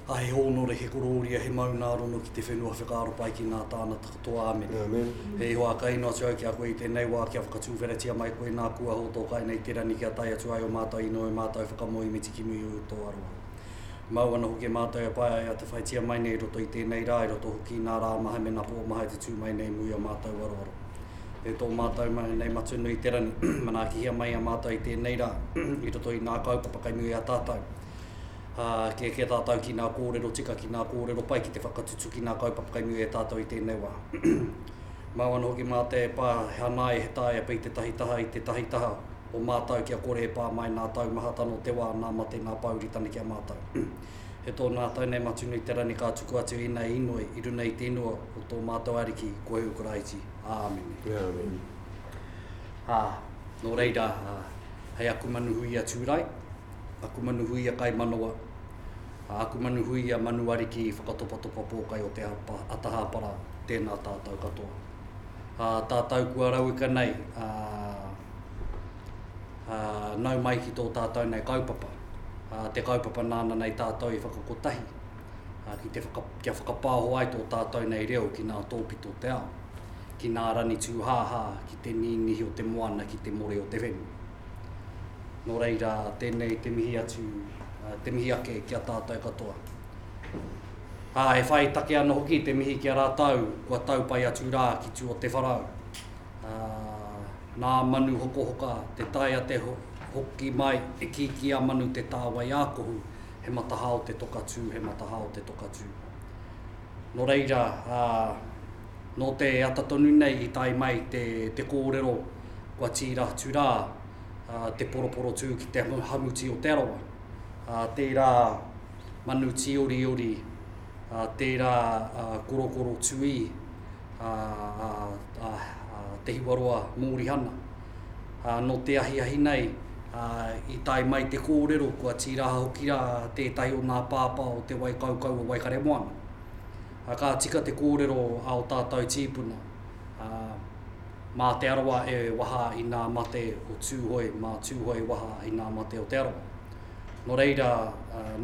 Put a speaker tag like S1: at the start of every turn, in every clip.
S1: A he hōnore, he korōria, he maunārono ki te whenua whekaaro pai ki ngā tānata katoa. Āmen. Āmen. He ihoa kaino atu au ki a koe i tēnei wā kia whakatūwheratia mai koe nā kua hōtōkai nei te rangi kia tae atu ai o mātou inoi, o mātou whakamoemiti ki muri o Utoaroa. Mau ana hoki e mātou e paea ia te whaitia mai nei i roto i tēnei rā, i roto hoki i nā rā maha me nā pō maha e te tū mai nei mō ia mātou aroaro. E tō mātou mahi nei Matunui Te Rangi, manaakihia mai a mātou i tēnei rā, i roto i nā kaupapa kai muri a tātou. Ā, kē kē tātou ki nā kōrero tika, ki nā kōrero pai ki te whakatutuki nā kaupapa kai muri e tātou i tēnei wā. Mau ana hoki mātou e paea he hanae, he taea pei tētahi taha i tētahi taha, o mātau kia kore e pā mai nā tau maha tano te wā nā mate nā pāuri tane ki a mātau. He tō nā tau nei Matunui te rani kā tuku atu ina e inoi i runa i te inua o tō mātau Ariki Kohehu Karaiti. Āmine. Āmine.
S2: Ā,
S1: nō reira, ā, hei aku manu hui a Tūrai, aku manu hui a Kaimanawa, ā, aku manu hui a Manu Ariki Whakatopatopa Pōkai o te Hapa, a Taha Hapara, tēnā tātau katoa. Ā, tātau kua rauika nei, ā, ā, nau mai ki tō tātou nei kaupapa, ā, te kaupapa nāna nei tātou i whakakotahi, ā, ki te whaka, kia whakapāho ai tō tātou nei reo ki nā tōpito o te ao, ki nā rangi tūhāhā, ki te nīnihi o te moana, ki te more o te whenua. Nō reira, tēnei te mihi atu, ā, te mihi ake ki a tātou katoa. Ā, e whai take ana hoki te mihi ki a rātou kua tau pai atu rā ki tū o te wharau. Ā, nā Manu Hokohoka te tae a te hoki mai e kīkī a Manu te tāwai ākohu, he matahā o te toka tū, he matahā o te toka tū. Nō reira, ā, nō te ata tonu nei i tae mai te, te kōrero kua tīra atu rā, ā, te poroporotū ki te hamuti o Te Arawa. Ā, tērā Manu Tīoriori, ā, tērā, ā, Korokoro Tuī, a Te Hiwaroa Mōrihana. Nō te ahiahi nei, i tae mai te kōrero kua tīraha hoki rā tētahi o ngā pāpā o Te Waikaukau o Waikaremoana. Ka tika te kōrero a o tātau tīpuna, mā Te Arawa e waha i ngā mate o Tūhoe, mā Tūhoe e waha i ngā mate o Te Arawa. Nō reira,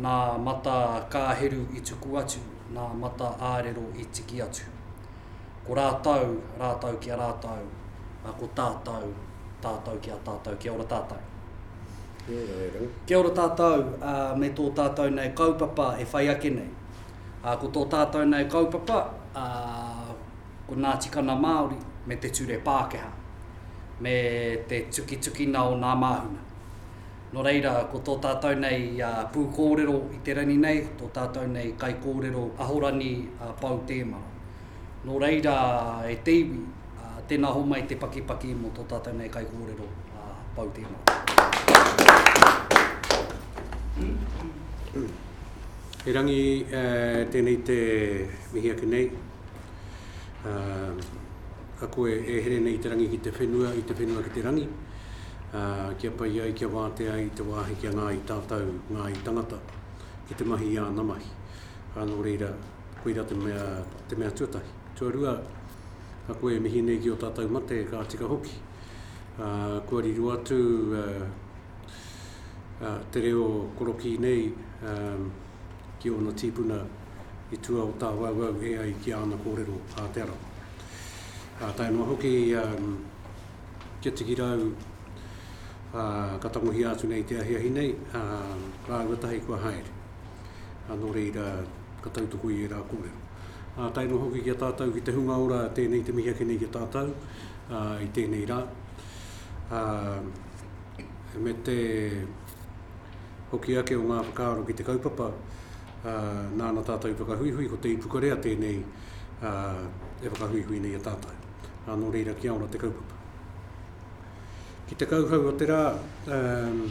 S1: nā Mata Kāheru i tuku atu ngā mata ārero i tiki atu. Ko rātou, rātou ki a rātou, ā, ko tātou, tātou ki a tātou. Kia ora tātou. Kia ora e rau. Kia ora tātou, ā, me tō tātou nei kaupapa e whai ake nei. Ā, ko tō tātou nei kaupapa, ā, ko Ngā Tikana Māori me te Ture Pākehā, me te tukitukina o ngā māhunga. Nō reira, ko tō tātou nei pūkōrero i te rangi nei, tō tātou nei kaikōrero Ahorani a Pou Tēmara. Nō reira, e te iwi, tēnā homai te pakipaki mō tō tātou nei kaikōrero a Pou Tēmara.
S2: Erangi tēnei te mihi ake nei. a koe e here nei i te rangi ki te whenua, i te whenua ki te rangi, ā, kia pai ai, kia wātea ai i te wāhi kia ngā i tātou, ngā i tangata, ki te mahi i āna mahi. Ā, nō reira, koira te mea, te mea tuatahi. Tuarua, a koe e mihi nei ki ō tātou mate, ka tika hoki. Ā, kua riro atu ā, ā, te reo korokī nei ā, ki ōna tīpuna i tua o tāwauwau e ai ki āna kōrero ā Te Arawa. Ā, tae noa hoki i a Te Tikirau, ā, ka tangohia atu nei te ahiahi nei, ā, rāua tahi kua haere. Ā, nō reira, ka tautoko i ērā kōrero. Ā, tae noa hoki ki a tātou, ki te hunga ora, tēnei te mihi ake nei ki a tātou, ā, i tēnei rā. Ā, me te hoki ake o ngā whakaaro ki te kaupapa, nāna tātou i whakahuihui, ko Te Ipukarea tēnei e whakahuihui nei e tātou. Nā, nō reira kia ora te kaupapa. Ki te kauhau o te rā, um,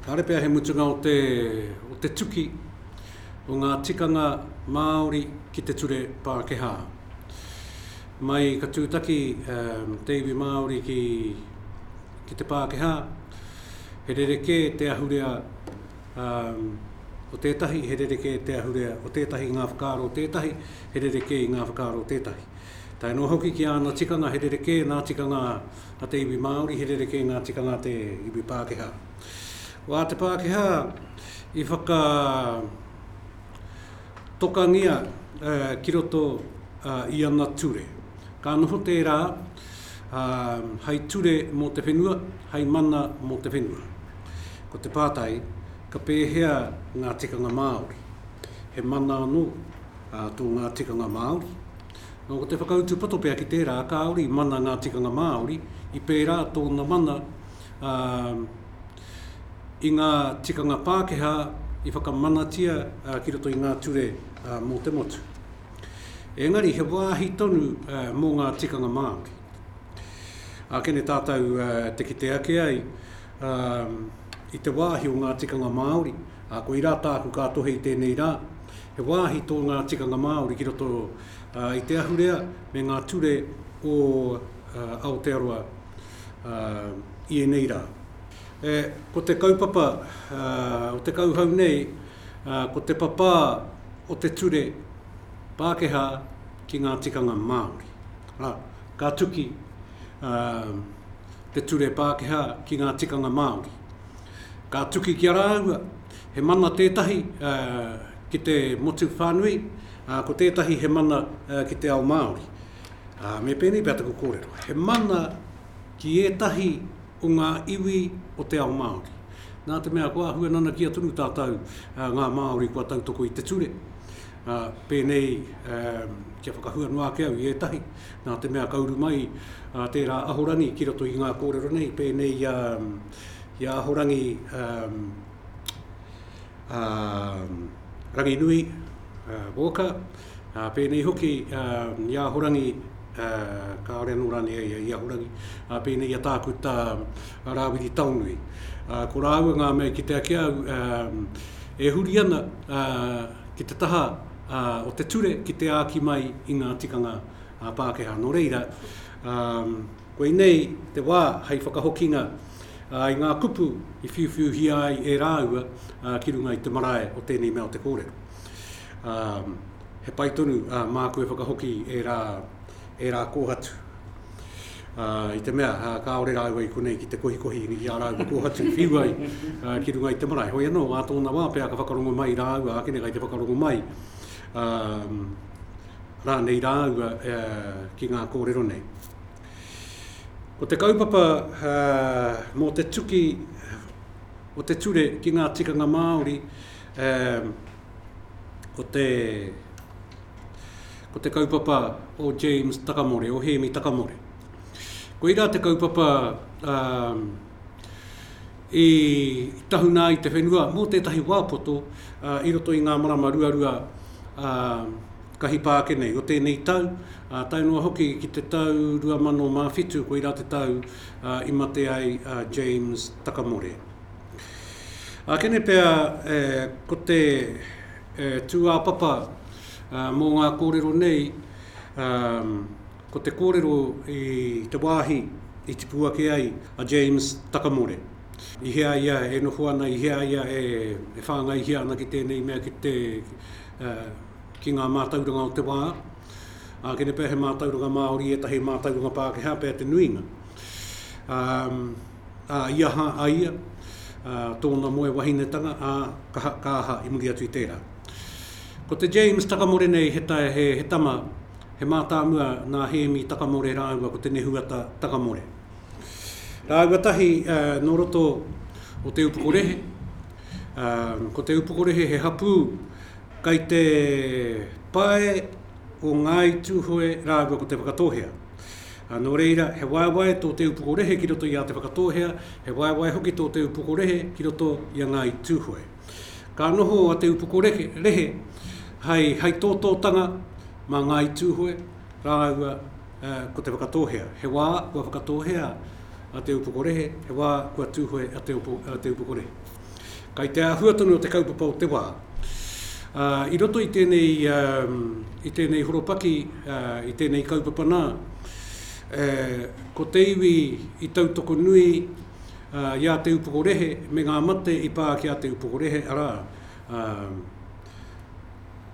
S2: kāre pea he mutunga o te, o te tuki o ngā tikanga Māori ki te ture Pākehā. Mai ka tūtaki um, te iwi Māori ki, ki te Pākehā, He rerekē te ahurea o tētahi, he rerekē te ahurea o tētahi i ngā whakaaro o tētahi, he rerekē i ngā whakaaro o tētahi. Tae noa hoki ki āna tikanga, he rerekē nā tikanga a te iwi Māori, he rerekē ngā tikanga a te iwi Pākehā. Wā te Pākehā i whaka tokangia ki roto i ana ture. Ka noho tērā hei ture mō te whenua, hei mana mō te whenua. Ko te pātai, ka pēhea ngā tikanga Māori? He mana anō tō ngā tikanga Māori? Nō ko te whakautu poto pea ki tērā, kāore i mana ngā tikanga Māori, i pērā tōna mana i ngā tikanga Pākehā i whakamanatia ki roto i ngā ture mō te motu. Engari, he wāhi tonu mō ngā tikanga Māori. Ākene tātou te kite ake ai i te wāhi o ngā tikanga Māori, koirā tāku ka tohe i tēnei rā, he wāhi tō ngā tikanga Māori ki roto i te ahurea me ngā ture o Aotearoa i ēnei rā. Ko te kaupapa o te kauhau nei, ko te papā o te ture Pākehā ki ngā tikanga Māori. Arā, ka tuki te ture Pākehā ki ngā tikanga Māori. Ka tuki ki a rāua, he mana tētahi ki te motu whānui, ko tētahi he mana ki te ao Māori. Ā, me pēnei pea taku kōrero, he mana ki ētahi o ngā iwi o te ao Māori. Nā te mea kua āhua nanakia tonu tātou ngā Māori kua tautoko i te ture, ā, pēnei kia whakahua noa ake au i ētahi, nā te mea ka uru mai tērā Ahorangi ki roto i ngā kōrero nei, pēnei i a, i a Ahorangi Ranginui Walker, Ā, pēnei hoki, ā, i Ahorangi, ā, kāore anō rānei a ia i Ahorangi, ā, pēnei i a Tākuta Rāwiri Taonui. Ā, ko rāua ngā mea i kite ake au, ā, e huri ana, ā, ki te taha, ā, o te ture ki te āki mai i ngā tikanga, ā, Pākehā. Nō reira, ā, koinei te wā hei whakahokinga, ā, i ngā kupu i whiuwhiuhia ai e rāua, ā, ki runga i te marae o tēnei mea o te kōrero. Ā, he pai tonu, ā, māku e whakahoki e rā, e rā kōhatu. Ā, i te mea, ā, kāore rāua i konei ki te kohikohi i ā rāua kōhatu, whiu ai, ā, ki runga i te marae. Hoi anō, ā tōna wā pea ka whakarongo mai rāua ākene kai te whakarongo mai, ā, rānei rāua, ā, ki ngā kōrero nei. Ko te kaupapa, ā, mō te tuki o te ture ki ngā tikanga Māori, Um, ko te, ko te kaupapa o James Takamore, o Hēmi Takamore. Koirā te kaupapa um, i tahuna i te whenua mō tētahi wāpoto uh, i roto i ngā marama ruarua uh, kahi pāke nei o tēnei tau, uh, tae noa hoki ki te tau 2007, koirā te tau uh, i mate ai uh, James Takamore. Ākene pea ko te tūāpapa mō ngā kōrero nei, ko te kōrero i te wāhi i tipu ake ai a James Takamore. I hea ia e noho ana, i hea ia e whāngaihia ana ki tēnei mea, ki ngā mātauranga o te wā. Ākene pea he mātauranga Māori ētahi mātauranga Pākehā pea te nuinga. Ā, i aha a ia? Ā, tōna moe wahinetanga, ā, ka, ka aha i muri atu i tērā? Ko te James Takamore nei he, he, he tama, he mātāmua nā Hēmi Takamore rāua ko Te Nehuata Takamore. Rāua tahi ā, nō roto o Te Upokorehe. Ā, ko Te Upokorehe he hapū kai te pae o Ngāi Tūhoe rāua ko Te Whakatōhea. Ā, nō reira, he waewae tō Te Upoko Rehe ki roto i a Te Whakatōhea, he waewae hoki tō Te Upoko Rehe ki roto i a Ngāi Tūhoe. Ka noho a Te Upoko Rehe hai, hai tōtōtanga mā Ngāi Tūhoe rāua ko Te Whakatōhea. He wā kua Whakatōhea a Te Upoko Rehe, he wā kua Tūhoe a Te Upoko Rehe. Kai te āhua tonu o te kaupapa o te wā. I roto i tēnei, i tēnei horopaki, i tēnei kaupapa nā, ko te iwi i tautoko nui i a Te Upoko Rehe me ngā mate i pā ki a Te Upoko Rehe, arā,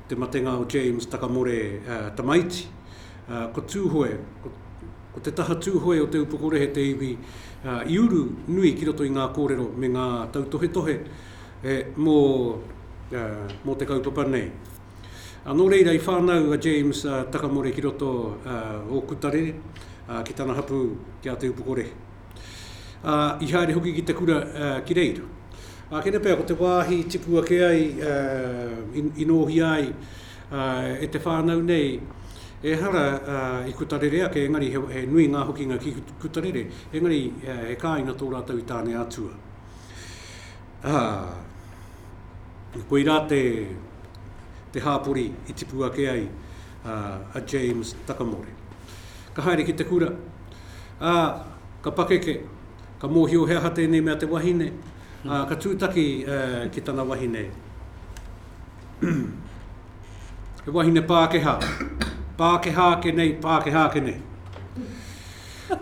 S2: te matenga o James Takamore Tamaiti, ā, ko Tūhoe, ko, ko te taha Tūhoe o Te Upokorehe te iwi, ā, i uru nui ki roto i ngā kōrero me ngā tautohetohe e, mō, ā, mō te kaupapa nei. Ā, nō reira i whānau a James, ā, Takamore ki roto, ā, o Kutarere, ā, ki tana hapū, ki a Te Upokorehe. Ā, i haere hoki ki te kura, ā, ki reira. Ā, kēnei pea ko te wāhi i tipu ake ai, ā, i, i nōhia ai, E te whānau nei, ehara i Kutarere ake, engari he nui ngā hokinga ki Kutarere, engari he kāinga tō rātou i Tāneatua. Ā, koirā te hāpori i tipu ake ai a James Takamore. Ka haere ki te kura, ā, ka pakeke, ka mōhio he aha tēnei mea te wahine, ā, ka tūtaki ki tana wahine. He wahine Pākehā. Pākehā ake nei, Pākehā ake nei.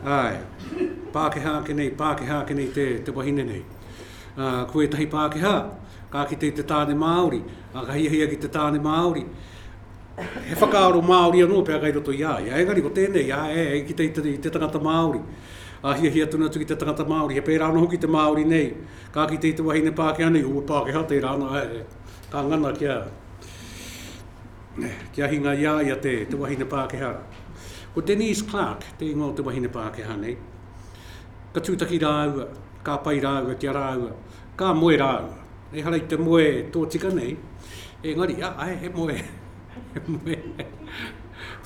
S2: Ai, Pākehā ake nei, Pākehā ake nei te, te wahine nei. Uh, ko ētahi Pākehā, ka kite i te tāne Māori, a ka hiahia ki te tāne Māori, he whakaaro Māori anō pia kai roto i a ia. Engari ko tēnei, a, e, e kite i te, i te tangata Māori, a hiahia tonu atu ki te tangata Māori, he pērā anō hoki te Māori nei, ka kite i te wahine Pākehā nei, o Pākehā tērā anō, e, e, Ka ngana kia kia hinga i a ia te, te wahine Pākehā. Ko Denise Clark te ingoa o te wahine Pākehā nei. Ka tūtaki rāua, ka pai rāua ki a rāua, ka moe rāua. Ehara i te moe tōtika nei, engari, a, ae, he moe, he moe.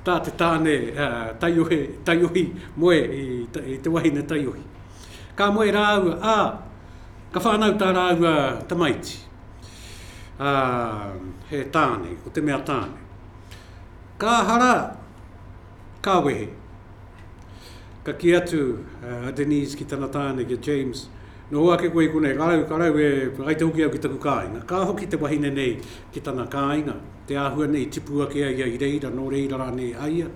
S2: Tā te tāne uh, taiohi, taiohi moe i, i te wahine taiohi. Ka moe rāua, a, Ka whānau tā rāua tamaiti, ā, he tāne, ko te mea tāne. Ka hara, ka wehe. Ka kī atu a Denise ki tana tāne, ki a James, Noho ake koe i konei, ka rau, ka rau e, ai te hoki au ki taku kāinga. Ka hoki te wahine nei ki tana kāinga, te āhua nei i tipu ake ai ia i reira, nō reira rānei a ia,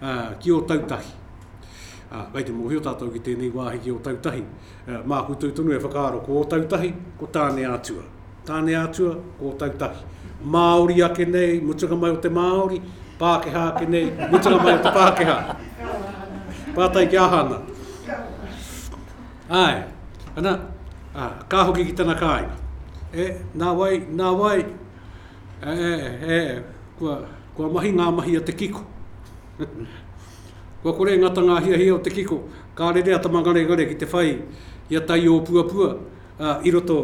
S2: ā, ki Ōtautahi. Ā, kei te mōhio tātou ki tēnei wāhi ki Ōtautahi. Mā koutou tonu e whakaaro, ko Ōtautahi, ko Tāneātua. Tāneātua, ko Ōtautahi. Māori ake nei, mutunga mai o te Māori, Pākehā ake nei, mutunga mai o te Pākehā. Pātai ki aha ana? Āe, ana, ā, ka hoki ki tana kāinga. E, nā wai, nā wai, e, e, kua, kua mahi ngā mahi a te kiko. Kua kore e ngata ngā hiahia o te kiko, ka rere a Tama Ngaregare ki te whai i a Taiopuapua i roto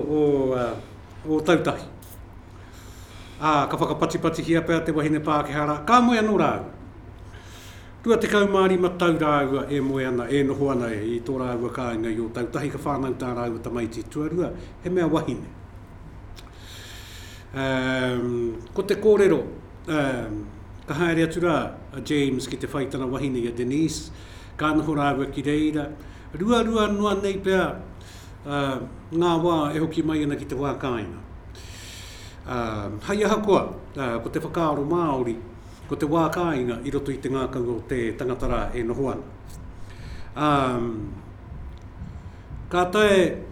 S2: o Tautahi. Ā, ka whakapatipatihia pea te wahine Pākehā rā, ka moe anō rāua. Rua tekau mā rima tau rāua e moe ana, e noho ana i tō rāua kāinga i Ōtautahi, ka whānau tā rāua tamaiti tuarua, he mea wahine. Ko te kōrero, Ka haere atu rā a James ki te whai tana wahine i a Denise, ka noho rāua ki reira. Ruarua noa nei pea ngā wā e hoki mai ana ki te wā kāinga. Hai aha koa, ko te whakaaro Māori, ko te wā kāinga i roto i te ngākau o te tangata rā e noho ana. Ka tae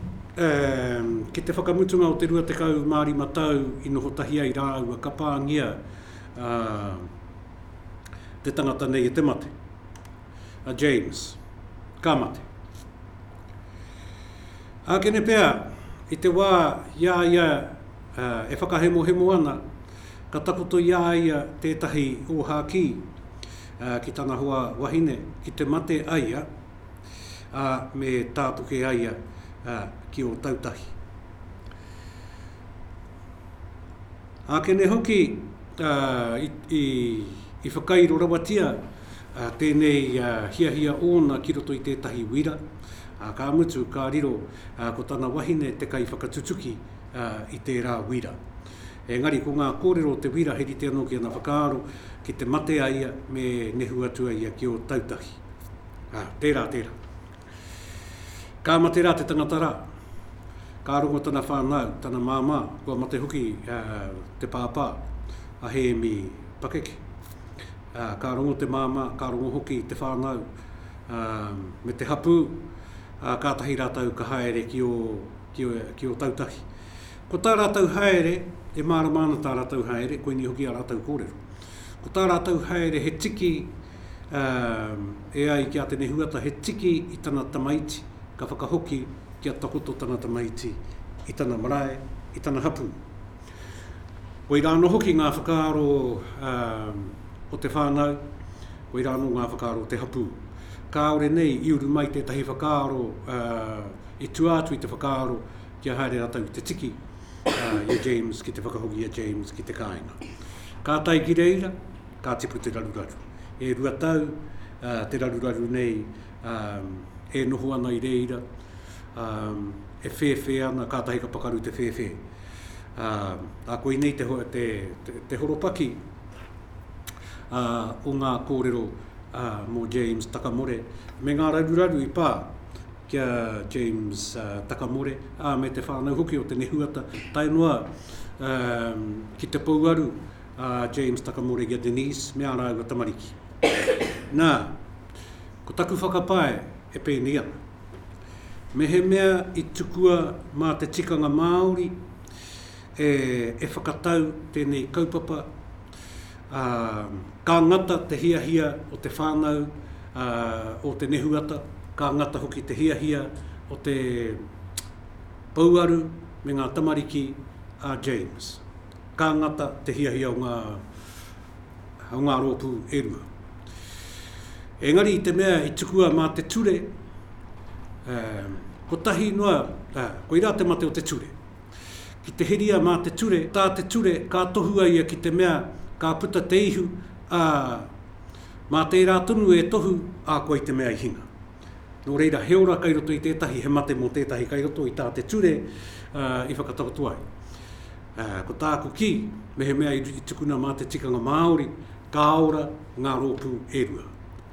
S2: ki te whakamutunga o te 25 tau i noho tahi ai rāua, ka pāngia te tangata nei e te mate, a James, ka mate. Ākene pea, i te wā i a ia e whakahemohemo ana, ka takoto i a ia tētahi ōhākī ki tana hoa wahine, ki te mate a ia, ā, me tātoke a ia ki Ōtautahi. Ākene hoki i whakairo rawatia tēnei hiahia ōna ki roto i tētahi wira, ā, ka mutu ka riro ko tana wahine te kaiwhakatutuki i tērā wira. Engari ko ngā kōrero o te wira he rite anō ki ana whakaaro ki te mate a ia me nehu atu a ia ki Ōtautahi. Ā, tērā, tērā. Ka mate rā te tangata rā. Ka rongo tana whānau, tana māmā, kua mate hoki ā, te pāpā, a Hēmi Pakeke. Ā, ka rongo te māmā, ka rongo hoki te whānau ā, me te hapū, ā, kātahi rātou ka haere ki ō, ki ō, ki ō tautahi. Ko tā rātou haere, e mārama ana tā rātou haere, koinei hoki ā rātou kōrero. Ko tā rātou haere he tiki, e ai ki a Tene Huata he tiki i tana tamaiti ka whakahoki kia takoto tana tamaiti i tana marae, i tana hapū. Koirā anō hoki ngā whakaaro o te whānau, koirā anō ngā whakaaro o te hapū. Kāore nei i uru mai tētahi whakaaro, i tua atu i te whakaaro kia haere rātou i te tiki i a James ki te whakahoki i a James ki te kāinga. Ka tae ki reira, Ka tipu te raruraru. E rua tau te raruraru nei e noho ana i reira, e whēwhē ana, kātahi ka pakaru te whēwhē. Ā, koinei te horopaki o ngā kōrero mō James Takamore me ngā raruraru i pā ki a James Takamore, ā, me te whānau hoki o te nehuata tae noa ki te pouaru a James Takamōregia Denise me ā rāua tamariki. Nā, ko taku whakapae e pēnei ana. Mehemea i tukua mā te tikanga Māori e, e whakatau tēnei kaupapa, ā, ka ngata te hiahia o te whānau, ā, o te nehuata, ka ngata hoki te hiahia o te pouaru me ngā tamariki a James. Ka ngata te hiahia o ngā, o ngā rōpū e rua. Engari i te mea i tukua mā te ture, kotahi noa, koirā te mate o te ture. Ki te heria mā te ture, tā te ture ka tohua ia ki te mea ka puta te ihu, ā, mā tērā tonu e tohu, ā, koe te mea i hinga. Nō reira, he ora kai roto i tētahi, he mate mō tētahi kai roto i tā te ture i whakatakoto ai. Ko tāku kī, mehemea i tukuna mā te tikanga Māori, ka ora ngā rōpū e rua.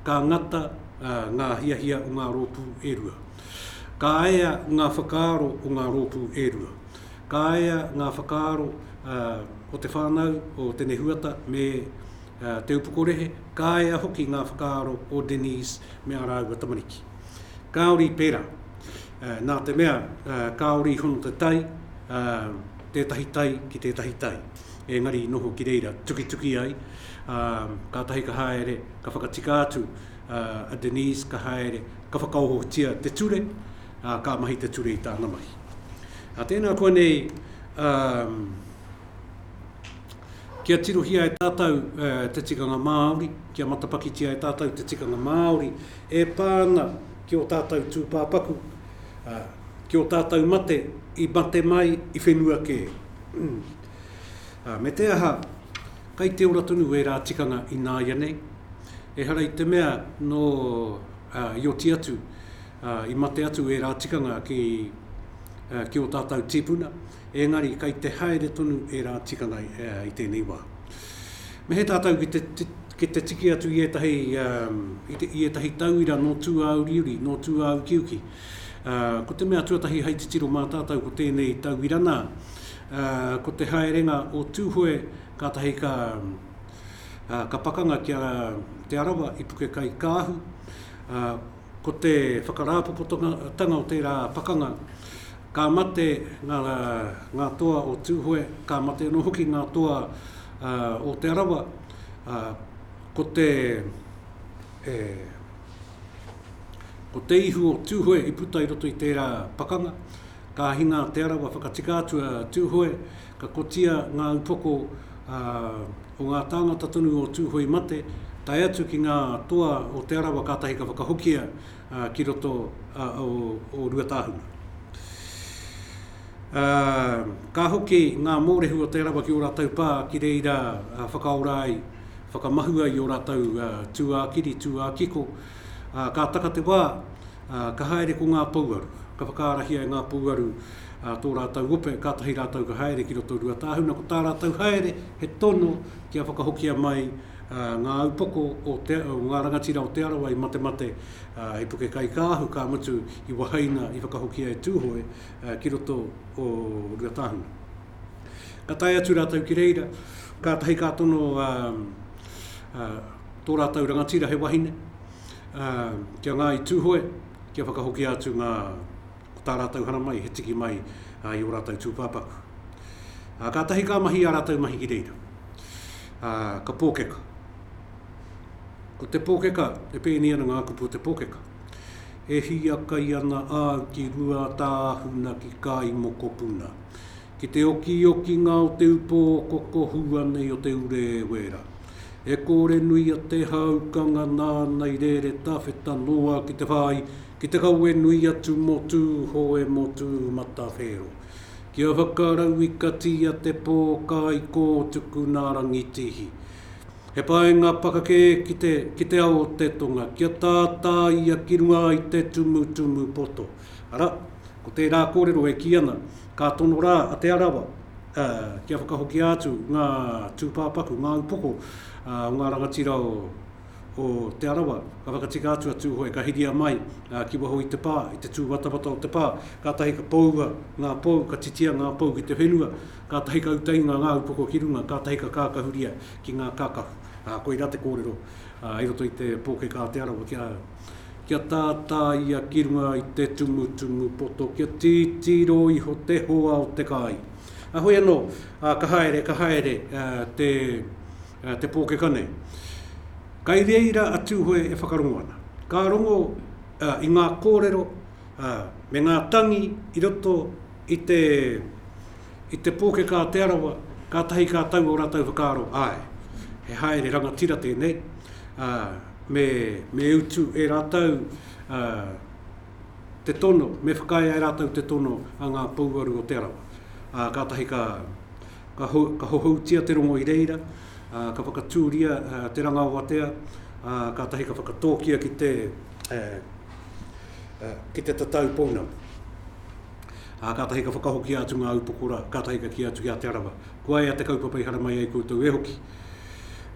S2: Ka ngata ngā hiahia o ngā rōpū e rua. Ka ea ngā whakaaro o ngā rōpū e rua. Ka ea ngā whakaaro o te whānau, o Tenehuata me Te Upoko Rehe, ka ea hoki ngā whakaaro o Denise me ā rāua tamariki. Kāore i pērā, nā te mea kāore i hono te tai, tētahi tai ki tētahi tai, engari i noho ki reira, tukituki ai, ā, kātahi ka haere, ka whakatika atu a Denise, ka haere, ka whakaohotia te ture, ā, ka mahi te ture i tāna mahi. Ā, tēnā koa nei, ā, Kia tirohia e tātou te tikanga Māori, kia matapakitia e tātou te tikanga Māori e pā ana ki ō tātou tūpāpaku, ki ō tātou mate i mate mai i whenua kē. Me te aha, kai te ora tonu ērā tikanga ināianei, ehara i te mea nō i oti atu, i mate atu ērā tikanga ki ō tātou tīpuna. Engari kei te haere tonu ērā tikanga i tēnei wā. Me he tātou ki te tiki atu i ētahi tauira nō tūāuriuri, nō tūāukiuki. Ko te mea tuatahi hei titiro mā tātou ko tēnei tauira nā, ko te haerenga o Tūhoe kātahi ka pakanga ki a Te Arawa i Pukekaikāhu, Ko te whakarāpopotanga o tērā pakanga, ka mate ngā toa o Tūhoe, ka mate anō hoki ngā toa o Te Arawa, ko te ihu o Tūhoe i puta i roto i tērā pakanga, ka hinga a Te Arawa whakatika atu a Tūhoe, Ka kotia ngā upoko o ngā tāngata tonu o Tūhoe mate, tae atu ki ngā toa o Te Arawa kātahi ka whakahokia ki roto o Ruatāhuna. Ka hoki ngā mōrehu o Te Arawa ki ō rātou pā ki reira whakaora ai, whakamahu ai ō rātou tūākiri, tūākiko, ka taka te wā, Ka haere ko ngā pouaru. Ka whakaarahia e ngā pouaru tō rātou ope, kātahi rātou ka haere ki roto Ruatāhuna. Ko tā rātou haere, he tono kia whakahokia mai ngā upoko o ngā rangatira o Te Arawa i matemate hei puke kaikāahu, ka mutu i wahaina, i whakahokia e Tūhoe ki roto o Ruatāhuna. Ka tae atu rātou ki reira, kātahi ka tono tō rātou rangatira he wahine, Kia Ngāi Tūhoe, kia whakahokia atu ngā, ko tā rātou hara mai, he tiki mai i ō rātou tūpāpaku. Kātahi ka mahi ā rātou mahi ki reira. Ka pōkeka. Ko te pōkeka, e pēnei ana ngā kupu o te pōkeka. E hiakai ana āu ki Ruatāhuna ki Kāimokopuna. Ki te okiokinga o te upo okoko hua nei o te ure e wera, e kōre nui a Te Hāukanga nāna i rere tawheta noa ki te whāi, ki te kawe nui atu mō Tūhoe, mō Tūmatawhero. Kia whakarau i katia te pō kai kō tuku nā Rangitihi. He paenga pakake ki te, ki te ao o te tonga, kia tātāia ki runga i te tumutumu poto. Arā, ko tērā kōrero e kī ana, ka tono rā a Te Arawa kia whakahokia atu ngā tūpāpaku, ngā upoko o ngā rangatira o Te Arawa, ka whakatika atu a Tūhoe, ka hiria mai ki waho i te pā, i te tūwatawata o te pā, kātahi ka poua ngā pou, ka titia ngā pou ki te whenua, kātahi ka uta inga ngā upoko ki runga, kātahi ka kākahuria ki ngā kākahu. Koirā te kōrero i roto i te pōkeka a Te Arawa ki a. Kia tātā ia ki runga i te tumutumu poto, kia titiro iho te hoa o te kai. Heoi anō, ka haere, ka haere te pōkeka nei. Kai reira a Tūhoe e whakarongo ana. Ka rongo i ngā kōrero me ngā tangi i roto i te pōkeka a Te Arawa, kātahi ka tau ō rātou whakaaro, āe, he haere rangatira tēnei, Me, me utu e rātou a, te tono, me whakaae e rātou te tono a ngā pouaru o Te Arawa. Ā, kātahi ka, ka, ho, ka hohoutia te rongo i reira, ā, ka whakatūria a, te ranga o Atea, ā, kātahi ka whakatōkia ki te, a, a, ki te tatau pounamu. Ā, kātahi ka whakahokia atu ngā upoko rā, kātahi ka kī atu ki a Te Arawa, Kua ea te kaupapa i haramai ai koutou e hoki.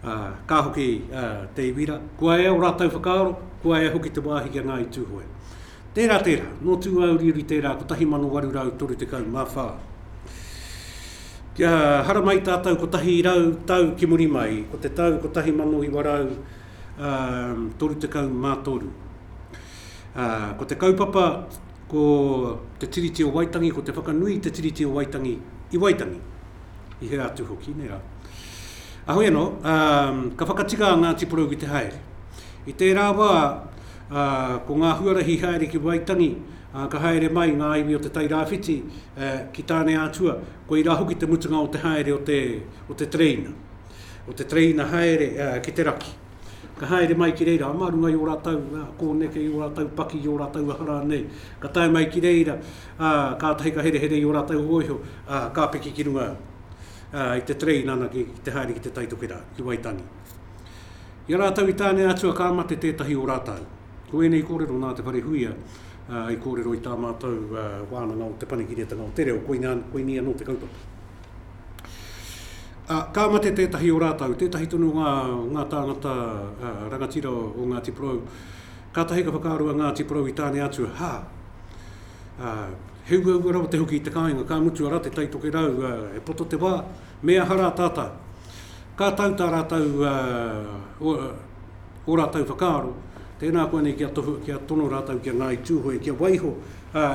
S2: Ā, ka hoki a Te Iwira, kua ea ō rātou whakaaro, kua ea hoki te wāhi ki a Ngāi Tūhoe. Tērā, tērā, nō Tūāuriuri tērā 1834. Kia haramai tātou 100 tau ki muri mai, ko te tau 1933. Ā, ko te kaupapa, ko te Tiriti o Waitangi, ko te whakanui i te Tiriti o Waitangi i Waitangi. i hea atu hoki, nē rā. Ahui anō, ka whakatika a Ngāti Porou ki te haere. I tērā wā, ko ngā huarahi haere ki Waitangi, ka haere mai ngā iwi o te Tairāwhiti ki Tāneātua, koirā hoki te mutunga o te haere o te tereina, o te tereina haere ki te raki. Ka haere mai ki reira, mā runga i ō rātou kōneke, i ō rātou paki, i ō rātou aha rānei, ka tae mai ki reira, ā, kātahi ka herehere i ō rātou hōiho, ā, ka piki ki runga i te terei nāna ki te haere ki Te Tai Tokerā, ki Waitangi. I a rātou i tāne atua ka mate tētahi o rātou. Ko ēnei kōrero nā Te Wharehuia i kōrero i tā mātou Wānanga o Te Panekiretanga o Te Reo, koinei anō te kaupapa. Ā, ka mate tētahi o rātou, tētahi tonu o ngā, ngā tāngata, ā, rangatira o Ngāti Porou. Kātahi ka whakaaro a Ngāti Porou i Tāne Atua, hā! Ā, he uaua rawa te hoki i te kāinga, ka mutu arā te Tai Tokerau, ā, e poto te wā, me aha rā tātā? Ka tau tā rātou, ā, o, o rātou whakaaro, tēnā koa nei kia tohu, kia tono rātou ki a Ngāi Tūhoe kia waiho, ā,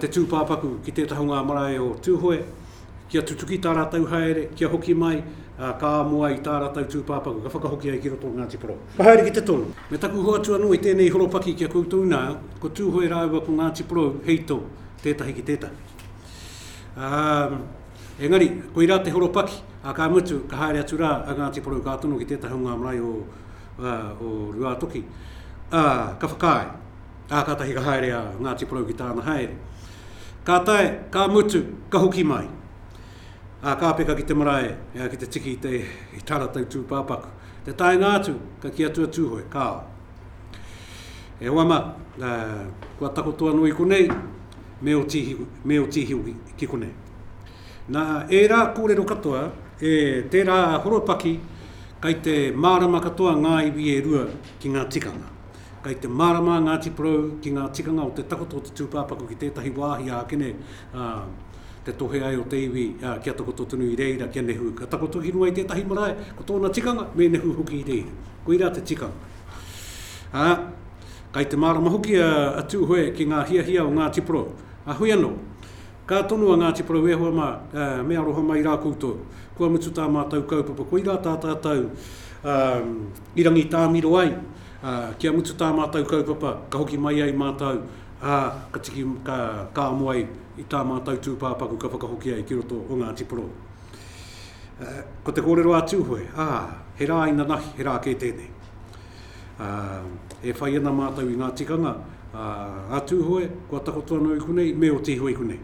S2: te tūpāpaku ki te taha o ngā marae o Tūhoe, kia tutuki tā rātou haere, kia hoki mai, ā, ka amo ai tā rātou tūpāpaku, ka whakahoki ai ki roto o Ngāti Porou. Ka haere ki te tono. Me taku hoatu anō i tēnei horopaki ki a koutou nā, ko Tūhoe rāua ko Ngāti Porou hei tō, tētahi ki tētahi. Ā, engari, koirā te horopaki, ā, ka mutu, ka haere atu rā a Ngāti Porou ka tono ki tētahi o ngā marae o, ā, o Ruātoki, ā, ka whakaae. Ā, kātahi ka haere a Ngāti Porou ki tāna haere. Ka tae, ka mutu, ka hoki mai. Ā, ka peka ki te marae, ā, ki te tiki i te, i tā rātou tūpāpaku. Te taenga atu, ka kī atu a Tūhoe, Kāo. E hoa mā, ā, kua takoto anō i konei, me ō tīhi, me ō tīhi hoki ki konei. Nā ērā kōrero katoa, e tērā horopaki kei te mārama katoa ngā iwi e rua ki ngā tikanga. Kei te mārama a Ngāti Porou ki ngā tikanga o te takoto o te tūpāpaku ki tētahi wāhi ākene, ā, te tohe ai o te iwi, ā, kia takoto tonu i reira, kia nehu. Ka takoto ki runga i tētahi marae, ko tōna tikanga, me nehu hoki i reira. Koirā te tikanga. Ā, kei te mārama hoki a, a Tūhoe ki ngā hiahia o Ngāti Porou. Ā, heoi anō, ka tono a Ngāti Porou, E hoa mā, ā, me aroha mai rā koutou. Kua mutu tā mātou kaupapa. Koirā tā tātou, ā, I Rangitāmiro ai, ā, kia mutu tā mātou kaupapa, ka hoki mai ai mātou, ā, ka tiki, ka, ka amo ai i tā mātou tūpāpaku ka whakahoki ai ki roto o Ngāti Porou. Ā, ko te kōrero a Tūhoe, ā, he rā inanahi, he rā kē tēnei. Ā, e whai ana mātou i ngā tikanga, ā, a Tūhoe, kua takoto anō i konei, me oti iho i konei.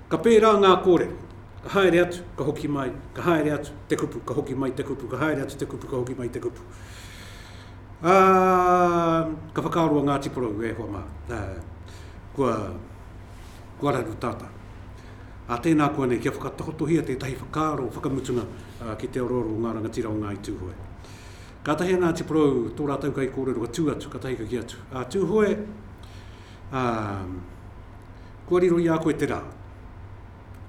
S2: Ka pērā ngā kōrero, ka haere atu, ka hoki mai, ka haere atu, te kupu, ka hoki mai te kupu, ka haere atu te kupu, ka hoki mai te kupu. Ā, ka whakaaro a Ngāti Porou, e hoa mā, ā, kua, kua raru tātā. Ā, tēnā koa nei, kia whakatakotohia tētahi whakaaro whakamutunga ki te orooro o ngā rangatira o Ngāi Tūhoe. Kātahi a Ngāti Porou, tō rātou kaikōrero ka tū atu, ka tahikaki atu. Ā, Tūhoe, ā, Kua riro i a koe te rā.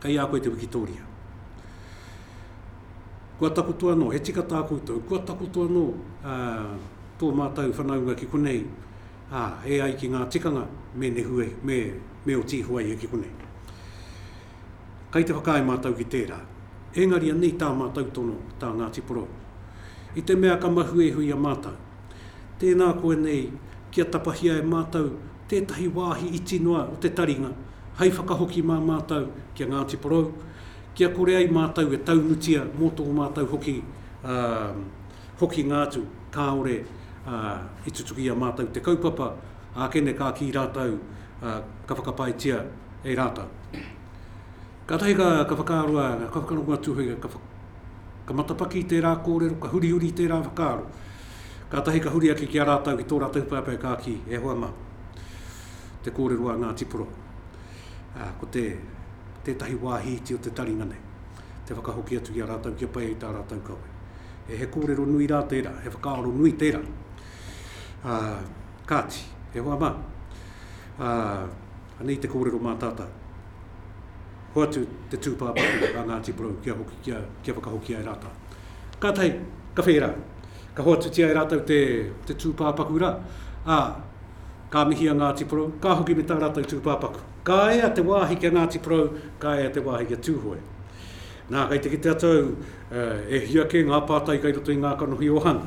S2: Kei a koe te wikitōria. Kua takoto anō, he tika tā koutou, kua takoto anō ā, tō mātou whanaunga ki konei, ā, e ai ki ngā tikanga me nehu e, me, me oti iho ai e ki konei. Kei te whakaae mātou ki tērā. Engari anei tā mātou tono, tā Ngāti Porou. I te mea ka mahue iho i a mātou, Tēnā koe nei kia tapahia e mātou tētahi wāhi iti noa o te taringa hai whakahoki mā mātou ki a Ngāti Porou, kia kore ai mātou e taunutia mō tō mātou hoki hokinga atu kāore i tutuki i a mātou te kaupapa ākene ka kī rātou ka whakapaetia e rātou. Kātahi ka whakaaro a, ka whakarongo atu hoki, ka. Ka matapaki tērā kōrero, ka hurihuri i tērā whakaaro. Kātahi ka huri ake ki a rātou, ki tō rātou pāpē ka kī, e hoa mā, te kōrero a Ngāti Poro, ā, ko te, tētahi wāhi iti o te taringa nei, te whakahoki atu ki a rātou kia pai ai tā rātou kawe. E he kōrero nui rā tērā, he whakaaro nui tērā. Ā, kāti, e hoa mā, ā, Anei te kōrero mā tātau. Hoatu te tūpāpaku a Ngāti Porou kia hoki kia, kia whakahokia e rātau. Kātahi, ka whē rā. Ka hoatutia e rātau te, te tūpāpaku rā, ā, ka mihi a Ngāti Porou, ka hoki me tā rātau tūpāpaku. Ka ea te wāhi ki a Ngāti Porou, ka ea te wāhi ki a Tūhoe. Nā, kei te kitea tāu e hia kē ngā pātai kei roto i ngā kanohi o Hana.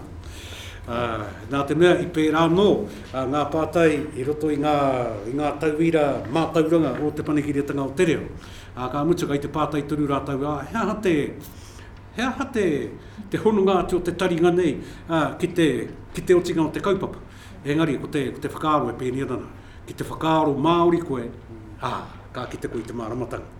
S2: Nā te mea, i pērā anō ngā pātai i roto i ngā, i ngā tauira mātauranga o Te Panekiretanga o te Reo. Ā, ka mutu, kei te pātai tonu rātou, ā, he aha te, he aha te, te hononga atu o te taringa nei ki te, ki te otinga o te kaupapa? Engari, ko te, ko te whakaaro e pēnei ana rā, ki te whakaaro Māori koe, ā, ka kite koe i te māramatanga.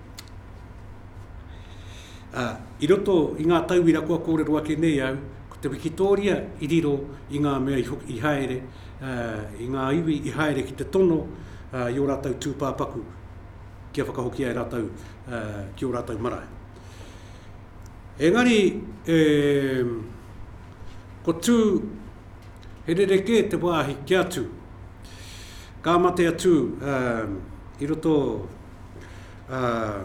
S2: Ā, i roto i ngā tauira kua kōrero ake nei au, ko te wikitōria i riro i ngā mea i haere, ā, i ngā iwi i haere ki te tono, ā, i ō rātou tūpāpaku kia whakahokia e rātou, ā, ki ō rātou marae. Engari, e, ko tū, he rerekē te wāhi kia tū. Ka mate a Tū, ā, i roto, Uh,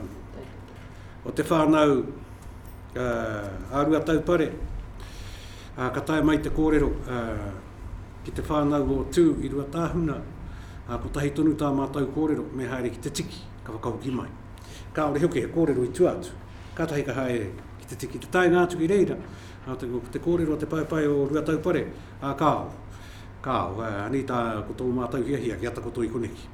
S2: o te whānau uh, a rua taupare, uh, ka tae mai te kōrero uh, ki te whānau o Tū i rua tāhuna, uh, ko tahi tonu tā mātou kōrero, me haere ki te tiki, ka whakahoki mai. Ka ore hoki he kōrero i tua atu, ka tahi ka haere ki te tiki. Te taenga atu ki reira, uh, te, te kōrero o te paepae o rua taupare, uh, ka ao. Ka ao, uh, anei tā ko tō mātou hiahia ki atakoto i koneki.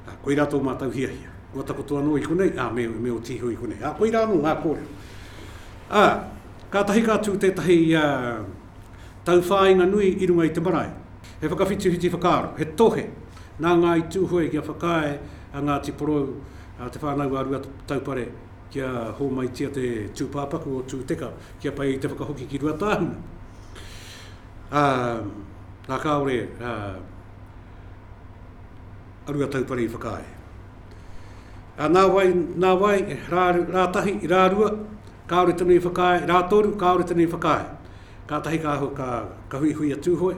S2: Ā, koirā tō mātou hiahia. Kua takoto anō i konei, ā, me, me oti iho i konei. Ā, koirā anō ngā kōrero. Ā, kātahi ka tū tētahi, ā, tauwhāinga nui i runga i te marae. He whakawhitiwhiti whakaaro, he tohe nā Ngāi Tūhoe kia whakaae a Ngāti Porou, ā, te whānau a Ruataupare kia hōmaitia te tūpāpaku o Tūteka kia pai i te whakahoki ki Ruatāhuna. Ā, ā, kāore, ā, a Ruataupare i whakaae. A nā wai, nā wai, rā, rā tahi, rā rua, kāore tonu i whakaae, rā toru, kāore tonu i whakaae. Ka tahi ka, ka, ka hui hui a Tūhoe,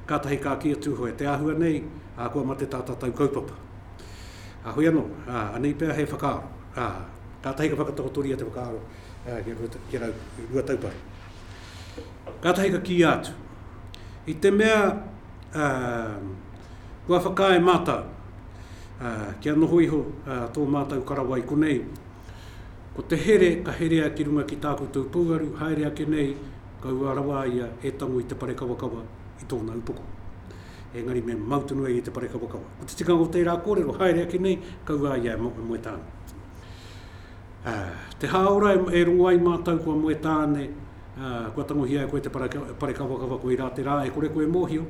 S2: ka tahi ka ki a Tūhoe, te āhua nei, a, kua mate tā tātou kaupapa. A hui anō, a, anei pea he whakaaro. A, ka tahi ka whakatakotoria te whakaaro a, ki, a, ki a Ruataupare. Ka tahi ka kīia atu, i te mea, ā, kua whakaae mātou, ā, kia noho iho, ā, tō mātou karawa i konei. Ko te here ka herea ki runga ki tā koutou pouaru, haere ake nei, ka ua rawa a ia e tango i te parekawakawa i tōna upoko. Engari me mau tonu a ia i te parekawakawa. Ko te tikanga o tērā kōrero, haere ake nei, ka ua a ia e Moetāne. Ā, te hāora e rongo ai mātou ko a Moetāne, Ā, kua tangohia e koe te parekawakawa koirā te rā e kore koe e mōhio,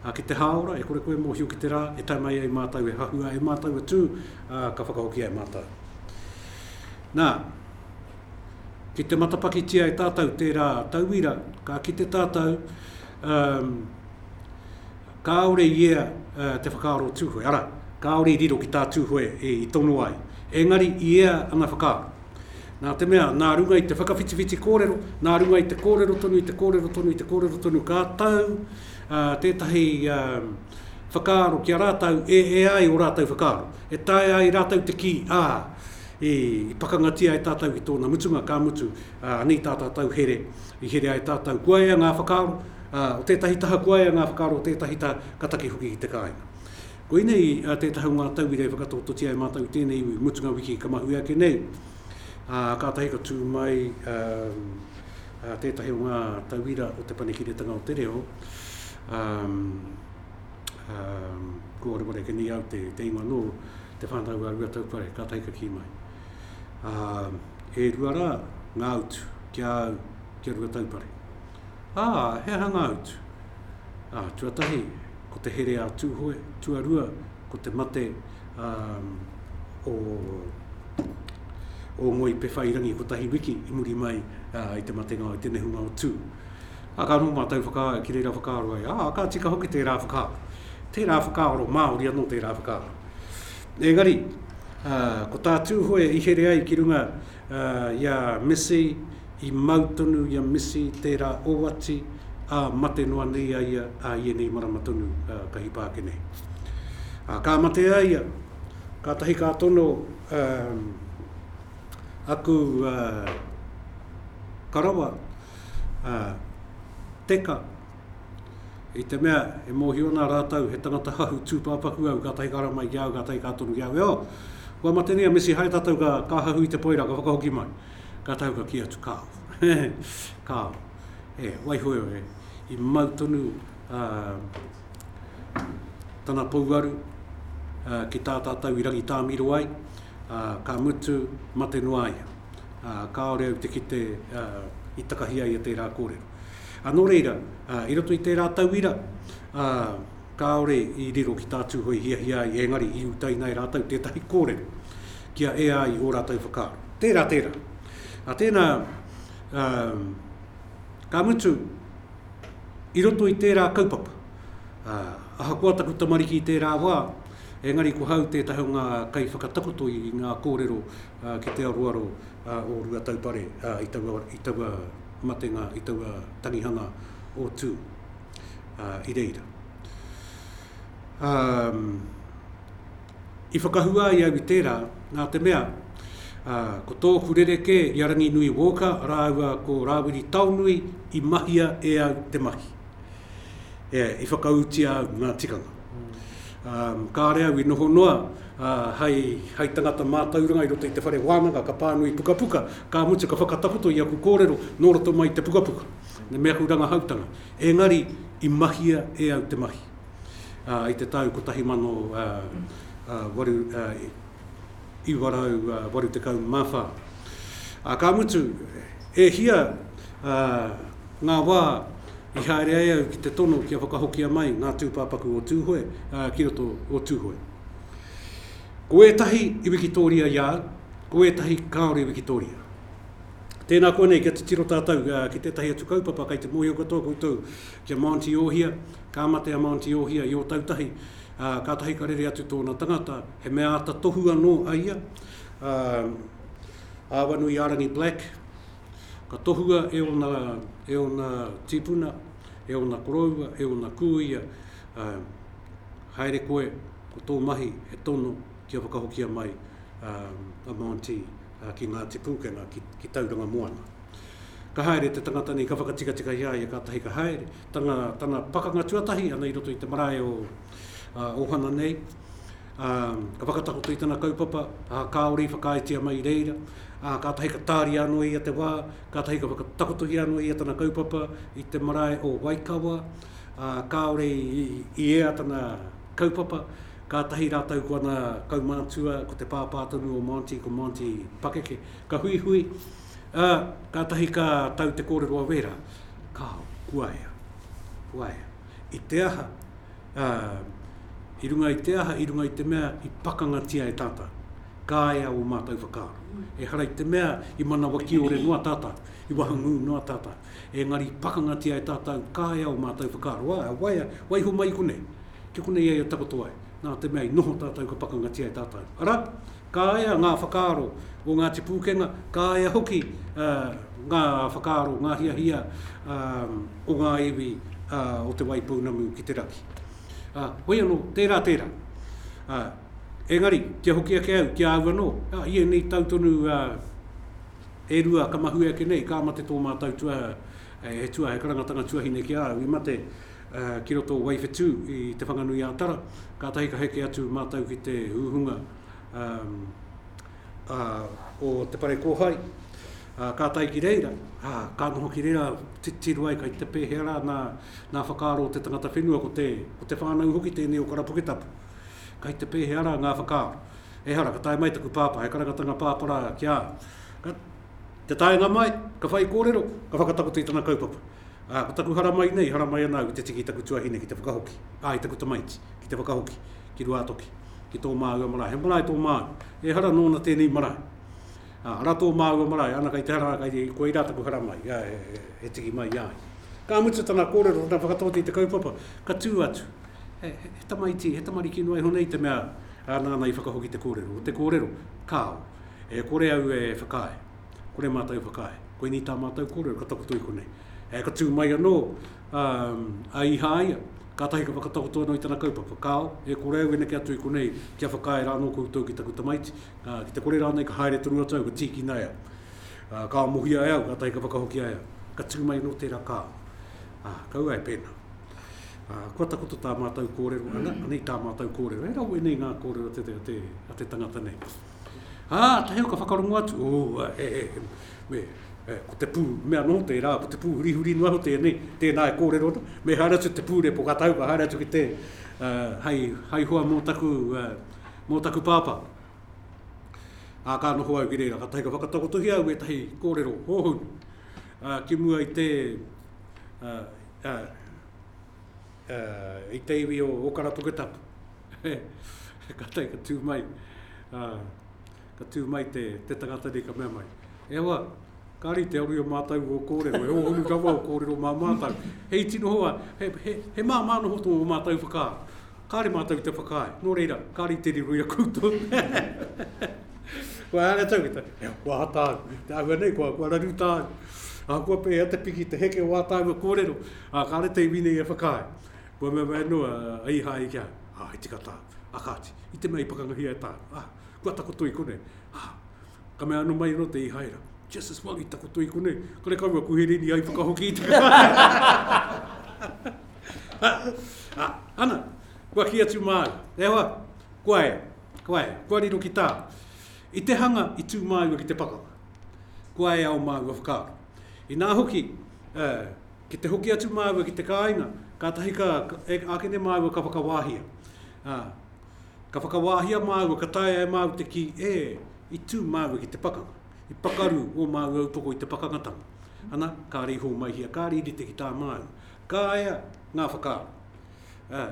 S2: ā, ki te hāora e kore koe e mōhio ki te rā e tae mai ai mātou e hahua e mātou e tū, ā, ka whakahokia e mātou. Nā, ki te matapakitia e tātou tērā tauira, ka kite tātou, ā, kāore i ea te whakaaro Tūhoe, arā, kāore i riro ki tā Tūhoe i tono ai, engari i ea anga whakaaro. Nā te mea, nā runga i te whakawhitiwhiti kōrero, nā runga i te kōrero tonu, i te kōrero tonu, i te kōrero tonu, ka tau tētahi whakaaro ki a rātau, e, e ai o rātau whakaaro. E tae ai rātau te kī, ā, i, i pakangatia e tātau ki tōna mutunga, ka mutu, ā, anei tā tātau here, i here ai tātau. Kua ea ngā whakaaro, ā, o tētahi taha, kua ea ngā whakaaro o tētahi taha, ka taki hoki ki te kāinga. Koinei tētahi o ngā tauira e whakatakototia e mātou i tēnei iwi, mutunga wiki ka mahue ake nei, ā, kātahi ka tū mai tētahi o ngā tauira o Te Panekiretanga o te Reo, ā, ā, kua wareware ake nei au te, te ingoa nō Te Whānau a Ruataupare, kātahi ka kī mai, ā, e rua rā ngā utu ki a au, ki a Ruataupare. Ā, he aha ngā utu? Ā, tuatahi, ko te here a Tūhoe, tuarua ko te mate a o o Ngoi Pewhairangi kotahi wiki i muri mai i te matenga o te nehunga o Tū. A ka noho mātou whaka, ki reira whakaaro ai, ā, ka tika hoki tērā whakaaro. Tērā whakaaro, Māori anō tērā whakaaro. Engari, ko tā Tūhoe i here ai ki runga, Ā, i a Misi, i mau tonu i a Misi tērā oati, ā, mate noa nei a ia ā ienei marama tonu, ā, ka hipa ake nei. Ā, ka mate a ia, kātahi ka tono, ā, aku, ā, karawa, ā, Teka, I te mea, e mōhio ana rātou he tangata hou tūpāpaku au, kātahi ka rama i a au, kātahi ka tono ki au, e o! Kua matenei a Missy Hae tātou ka, ka hahu i te poira, ka whakahoki mai. Kātahi ka kī atu, Kāo. Kāo. E, waihoe e, i mau tonu a tana pouaru a, ki tā tātou i rangitāmiro ai, a, ka mutu, mate noa ia. A, kāore au te kite a, i takahi ai e tērā kōrero. Ā, nō reira, ā, i roto i tērā tauira, ā, kāore i riro ki tā Tūhoe i hiahia ai, engari i utaina e rātou tētahi kōrero kia ea ai ō rātou whakaaro. Tērā, tērā. Ā tēnā, ā, ka mutu, i roto i tērā kaupapa, ā, ahakoa taku tamariki i tērā wā, engari ko hau tētahi o ngā kaiwhakatakoto i ngā kōrero, ā, ki te aroaro, ā, o Ruataupare, ā, i taua, i taua matenga, i taua tangihanga o Tū, ā, i reira. Ā, i whakahua ai au i tērā, nā te mea, ā, ko tōku rerekē i a Ranginui Walker rāua ko Rāwiri Taonui i mahia e au te mahi. E, i whakaūtia au ngā tikanga. Kāre au i noho noa hai tangata mātauranga i roto i te whare wānanga ka pānui pukapuka, ka mutu ka whakatakoto i aku kōrero nō roto mai i te pukapuka me aku rangahautanga. Engari i mahia e au te mahi i te tau 1800. 1984. Ā, ka mutu, e hia ā ngā wā i haere ai au ki te tono kia whakahokia mai ngā tūpāpaku o Tūhoe, ā, ki roto o Tūhoe. Ko ētahi i wikitōria i a au, ko ētahi kāore i wikitōria. Tēnā koa nei kia titiro tātou ki tētahi atu kaupapa kei te mōhio katoa koutou ki a Mānti Ōhia, ka mate a Mānti Ōhia i Ōtautahi ā, kātahi ka rere atu tōna tangata, he mea āta tohu anō a ia, ā, Āwanuiārangi Black, ka tohua e ōna, e ōna tīpuna, e ōna koroua, e ōna kūia, ā, haere koe, ko tō mahi he tono kia whakahokia mai, ā, a Monty, ā, ki Ngāti Pūkenga, ki, ki Tauranga Moana. Ka haere te tangata nei, ka whakatikatika i a ia kātahi ka haere, tana, tana pakanga tuatahi ana i roto i te marae o uh, Ohana nei. Um, ka whakatakoto i tana kaupapa, uh, kāore i whakaaetia mai reira, uh, kātahi ka tāria anō ia te wā, kātahi ka whakatakotohia anō ia tana kaupapa i te marae o Waikawa, uh, kāore i, i, i ea tana kaupapa, kātahi rātou ko ana kaumātua, ko te pāpā tonu o Monty, ko Monty Pakeke, ka huihui, Ā, kātahi ka tau te kōrero a Wēra, Kāo, kuaea, kuaea, i te aha, ā, i runga i te aha, i runga i te mea i pakangatia e tātou, kāea ō mātou whakaaro. Ehara i te mea i manawa kiore noa tātou, i wahangū noa tātou, engari i pakangatia e tātou, kāea ō mātou whakaaro. Ā, e waia, waiho mai i konei, ki konei ai e takoto ai, nā te mea i noho tātou ka pakangatia e tātou. Arā, Ka ea ngā whakaaro o Ngāti Pūkenga, ka ea hoki ngā whakaaro, ngā hiahia o ngā iwi o Te Waipounamu ki te raki. Hoi anō, tērā tērā. Engari, kia hoki ake au ki a au anō, i ēnei tau tonu e rua ka mahue ake nei, ka mate tō mātou tua, he tua, he karangatanga tuahine ki a au, i mate ki roto o Waiwhetū i Te Whanganui-ā-Tara, kātahi ka heke atu mātou ki te hūhunga o te whare kōhai, ka tae ki reira, ka noho ki reira titiro ai kai te pēhea rā ngā whakaaro o te tangata whenua, ko te whānau hoki tēnei o Karapuketapu, kai te pēhea rā ngā whakaaro. Ehara, ka tae mai taku pāpā, he karangatanga pāpara ki a au. Ka, te taenga mai, ka whaikōrero, ka whakatakoto i tana kaupapa. Ā, ko taku haramai nei, haramai ana au ki te tiki i taku tuahine ki te whakahoki, ā, i taku tamaiti ki te whakahoki ki Ruātoki, ki tō māua marae. He marae tō māu, ehara nōna tēnei marae. Ā, ara tō māua marae, ana kei te hara, kei, koirā taku haramai, ā, he, he, he tiki mai i a ia. Ka mutu tana kōrero, tana whakataote i te kaupapa, ka tū atu, he, he, he tamaiti, he tamariki noa iho nei te mea, ā, nāna i whakahoki te kōrero. Ko te kōrero, kāo, e kore au e whakaae. Kore mātou i whakaae. Koinei tā mātou kōrero ka takoto i konei. E, ka tū mai anō a Ihāia, kātahi ka whakatakoto anō i tana kaupapa. Kāo, e kore au e neke atu i konei kia whakaae rā anō koutou ki taku tamaiti, ki te kore rānei ka haere tonu atu au, ka tīkina e au. Kāo mohia e au, kātahi ka whakahoki ai au. Ka tū mai anō tērā kāo. Ā, kaua e pēnā. Ā, kua takoto tā mātou kōrero, anei tā mātou kōrero. He rawe nei ngā kōrero a te tangata nei. Ā, taheo ka whakarongo atu, ō, he, he, he, me, e, ko te pū, mea nō tērā, ko te pū hurihuri noa iho tēnei, tēnā e kōrero ana, me haere atu te pū repo, ka tahu, ka haere atu ki te, ā, hei, hei hoa mō taku, ā, mō taku pāpā. Ā, ka noho au ki reira, ka tahi ka whakatakotohia au ētahi kōrero hōhonu, ā, ki mua i te, ā, ā, uh, i te iwi o Okara Puketapu. ka tei ka tū mai, uh, ka tū mai te, te tangata nei ka mea mai. E hoa, kāri te aru o mātou o kōrero, e ōhuru rawa o kōrero mā mātou. He iti noho a, he, he, he mā mā noho tō mātou whakā. Kāre mātou te whakāe, nō reira, kāri te riro i a koutou. Kua hanga tau kita, e kua hata au, te ahua nei, kua, kua raru tāu. A kua pēhea te piki, te heke o ātāu a kōrero. Ā, kāre te iwi nei e whakaae, kua mea mai anō a Īhāia ki a, Ā, he tika tāu. Ā kāti, i te mea i pakangahia e tāu, ā, kua takoto i konei. Ā, ka mea anō mai anō te Īhāira, Just as well i takoto i konei, kare kouou kuherini ai whakahoki i te Ā, ana, kua kī atu māua, E hoa, kua ea, kua ea, kua riro ki tāu. I te hanga i tū māua ki te pakanga, kua ea o māua whakaaro. Inā hoki, ā, ki te hoki atu māua ki te kāinga, kātahi ka, e ākene māua ka whakawāhia. Ā, ka whakawāhia māua, ka taea e māua te kī, ē, i tū māua ki te pakanga. I pakaru ō māua upoko i te pakangatanga. Ana, kāre i hōmaihia, kāre i rite ki tā māua. Ka ea ngā whakaaro. Ā,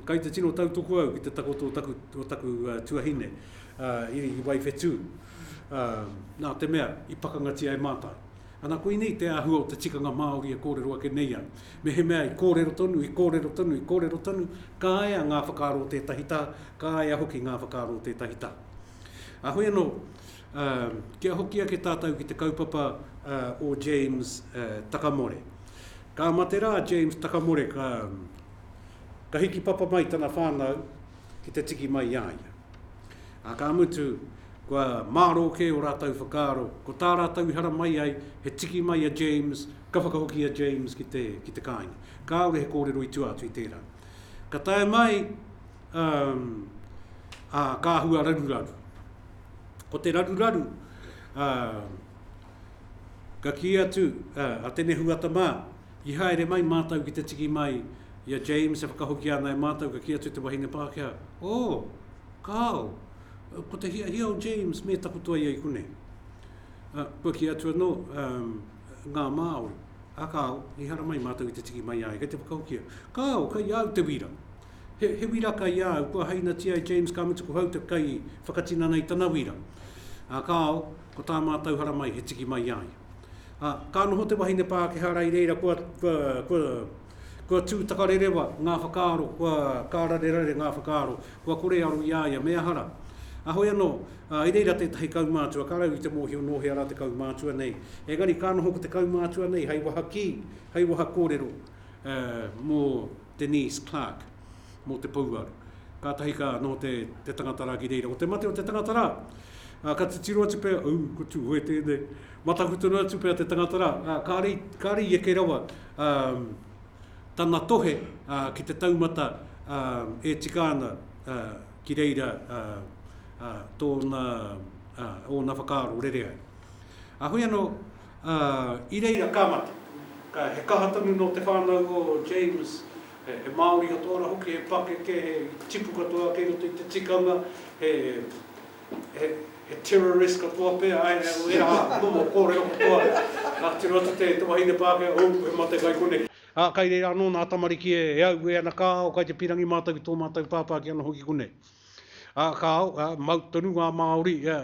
S2: kai te tino tautoko au ki te takoto o taku, o taku tuahine, ā, i, i Waiwhetū. Ā, nā te mea i pakangatia e Mātou. Ana, koinei te āhua o te tikanga Māori e kōrero ake nei ai. Mehemea i kōrero tonu, i kōrero tonu, i kōrero tonu, kāea ngā whakaaro o tētahi taha, kāea hoki ngā whakaaro o tētahi taha. Ā, hoi anō, ā, kia hoki ake tātou ki te kaupapa, ā, o James, ā, Takamore. Ka mate rā a James Takamore, ka, ka hiki papa mai tana whānau, ki te tiki mai i a ia. Ā, ka mutu, kua mārō kē ō rātou whakaaro, ko tā rātou i hara mai ai, he tiki mai a James, ka whakahoki a James ki te, ki te kāinga. Kāore he kōrero i tua atu i tērā. Ka tae mai, um, ā, ka hua raruraru. Ko te raruraru, uh, ka kī atu uh, a Tene Huata mā, I haere mai mātou ki te tiki mai i a James e whakahokia ana e mātou ka kī atu te wahine Pākehā, Oh! Kāo! Ko te hiahia o James me takoto ia i konei. Ā, kua kī atu anō, Um, ngā Māori. Ā kāo, i hara mai mātou i te tiki mai i a ia kei te whakahokia. Kāo, kei a au te wīra. He, he wīra kei a au, kua hainatia e James ka mutu ko hau te kai whakatinana i tana wīra. Ā kāo, ko tā mātou hara mai he tiki mai i a ia. Ā, ka noho te wahine Pākehā rā i reira kua, kua, kua, kua tū takarerewa ngā whakaaro, kua kārarerare ngā whakaaro, kua kore e aro i a ia, me aha rā. Ā, hoi anō, ā, i reira tētahi kaumātua, ka raua i te mōhio nō hea rā te kaumātua nei, engari ka noho ko te kaumātua nei hei waha kī, hei waha kōrero, ā, mō Denise Clarke. mō te pouaru. Kātahi ka noho te, te tangata rā ki reira. Ko te mate o te tangata rā, ā, ka titiro atu pea, ū, ko Tūhoe tēnei. Mataku tonu atu pea te tangata rā, ā, kāre, kāre i eke rawa ā, tana tohe ā, ki te taumata ā, e tika ana ā, ki reira ā, ā, tōna, ā, ōna whakaaro rere ai. Ā, hoi anō, ā, i reira ka mate. Ka, he kaha tonu nō te whānau o James. He Māori katoa rā hoki, he pakeke, he tipu katoa kei roto i te tikanga, he he terrorist katoa pea, āe, ērā momo kōrero katoa. Nā, tiro atu te wahine Pākehā, ōu, he mate kai konei. Ā, kai reira anō nā tamariki e aue ana ka ao, kai te pīrangi mātou ki tō mātou pāpā ki ana hoki konei. Ā, ka ao, ā, mau tonu ngā Māori, ā,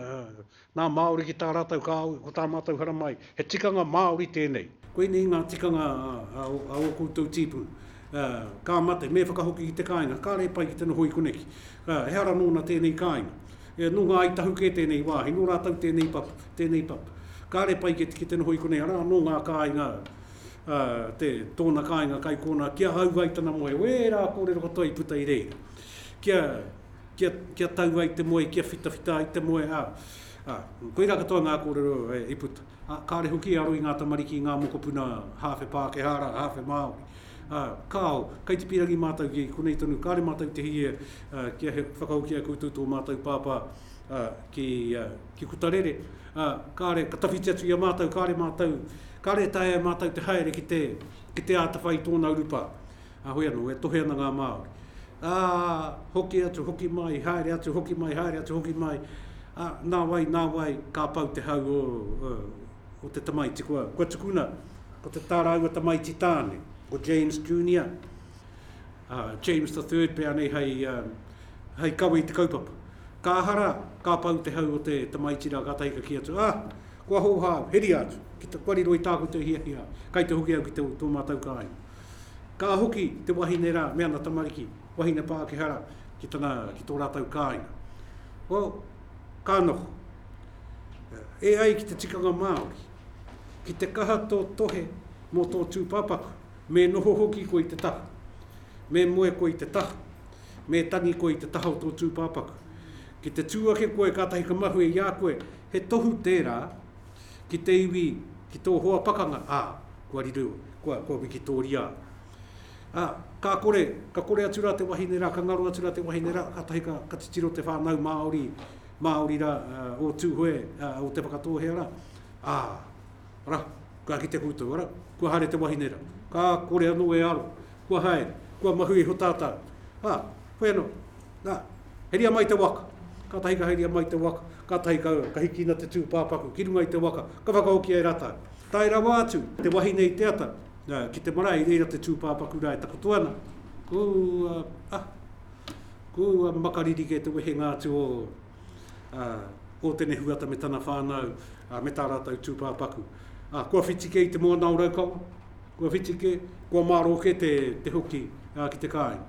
S2: Nā Māori ki tā rātou kāhui, ko tā mātou haramai, he tikanga Māori tēnei. Koinei ngā tikanga a ō koutou tīpuna. Ka mate, me whakahoki ki te kāinga, kāre e pai ki te noho i koneki. Ehara nōna tēnei kāinga. Nō ngā Ai Tahu kē tēnei wāhi, nō rātou tēnei papa, tēnei papa. Kāre pai ki te noho i konei, arā, nō ngā kāinga, tōna kāinga kai kōnā, ki ahau ai tana moe, wērā kōrero katoa i puta i reira. Kia. Kia, kia tau ai te moe, kia whitawhita ai te moe, ā, ā, koirā katoa ngā kōrero i puta. Ā, kāore hoki e aro i ngā tamariki i ngā mokopuna hāwhe Pākehā rā, hāwhe Māori. Ā, kāo, kaitipirangi mātou ki konei tonu, kāore mātou i te hī e, ā, kia he whakahoki ai koutou tō mātou pāpā, ā, ki, ā, ki Putarere, ā, kāore, ka tawhiti atu i a mātou, kāore mātou, kāore e taea e mātou te haere ki te, ki te ātawhai i tōna urupā. Kāhui anō e tohe ana ngā Māori, ā, hoki atu, hoki mai, haere atu, hoki mai, haere atu, hoki mai, ā, nā wai, nā wai, ka pau te hau o, o, o te tamaiti. Kua, kua tukuna, ko te, tā rāua tamaiti tāne, ko James Junior, ā, James the Third pea nei hei, ā, hei kawe i te kaupapa. Ka aha rā, ka pau te hau o te tamaiti rā, kātahi ka kī atu, ā, kua hōhā au, heria atu, ki te, kua riro i tāku te hiahia, kai te hoki au ki te, tō mātau kāinga. Ka hoki te wahine rā me ana tamariki, wahine Pākehara, ki tana, ki tō rātou kāinga. Well, ka noho. E ai ki te tikanga Māori, ki te kaha tō tohe mō tō tūpāpaku, me noho hoki koe i te taha, me moe koe i te taha, me tangi koe i te taha o tō tūpāpaku. Ki te tū ake koe kātahi ka mahue i a koe, he tohu tērā, ki te iwi, ki tō hoa pakanga, ā, kua riro, kua, kua wikitōria. Ā, ka kore, ka kore atu rā te wahine rā, ka ngaro atu rā te wahine rā, kātahi ka, ka titiro te whānau Māori, Māori rā, ā, o Tūhoe, ā, o Te Whakatōhea rā, ā, arā, ka kite koutou, arā, kua haere te wahine rā, ka kore anō e aro, kua haere, kua mahu iho tātau, ā, whai anō, Na, heria mai te waka. Katahi ka heria mai te waka, katahi ka, ka hikina te tūpāpaku ki runga i te waka, ka whakahokia e ratou. Tae rawa atu te wahine i te ata, na, ki te marae, i reira te tūpāpaku ra e takoto ana, Ko, ah, ah, ko makariri kē te wehenga atu o, ah, o Tenehuata me tana whānau, ah, me tā ratou tūpāpaku. Ah, kua whiti kē i te moana o Raukawa. Kua whiti kē, kua mārō kē te hoki ki te kāinga.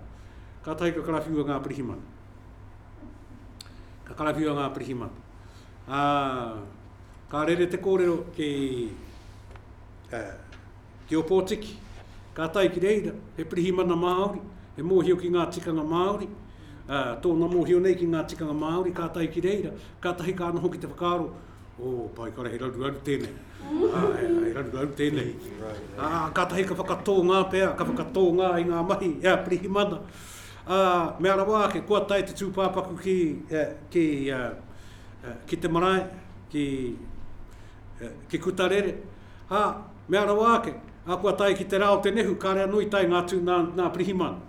S2: Kātahi ka karawhiua ngā pirihimana. Ka karawhiua ngā pirihimana. Ā, ka rere te kōrero ki, ā, ki Opotiki. Kātahi ki reira, he pirihimana Māori, he mōhio ki ngā tikanga Māori, ā, tōna mōhio nei ki ngā tikanga Māori, kātahi ki reira, kātahi ka noho ki te whakaaro, O, paekara, he raruraru tēnei. He raruraru tēnei. Ā, kātahi ka whakatōngā pea, ka whakatōngā i ngā mahi e a Pirihimana. Ā, mea rawa ake, kua tae te tūpāpaku ki, ki, ki te marae, ki, ki Kutarere. Ā, mea rawa ake, ā, kua tae ki te rā o te nehu, kāre anō i tae ngā tū nā, nā Pirihimana.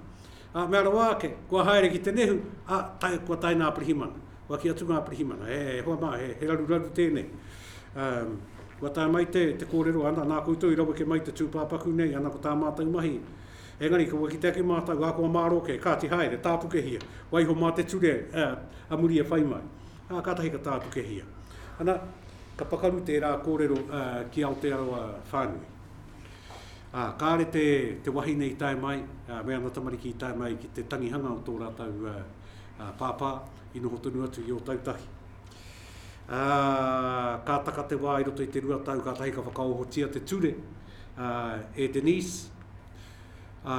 S2: Ā, mea rawa ake, Kua haere ki te nehu, ā, tae, kua tae ngā pirihimana. Kua kī atu ngā pirihimana, E, e hoa mā, he, he raruraru tēnei. Ā, kua tae mai te, te kōrero, Ana, nā koutou i raweke mai te tūpāpaku nei, ana ko tā mātou mahi. Engari, kua kite ake mātou, ahakoa mārō kē, kāti haere, tāpukehia, waiho mā te ture, ā, a muri e whai mai. Ā, kātahi ka tāpukehia. Ana, ka pakaru tērā kōrero, ā, ki Aotearoa whānui. Ā, kāre te, te wahine i tae mai, ā, me ana tamariki i tae mai ki te tangihanga o tō rātou, ā, ā, pāpā, i noho tonu atu i Ōtautahi. Ā, ka taka te wā i roto i te rua tau, kātahi ka whakaohotia te ture, ā, e Denise, ā,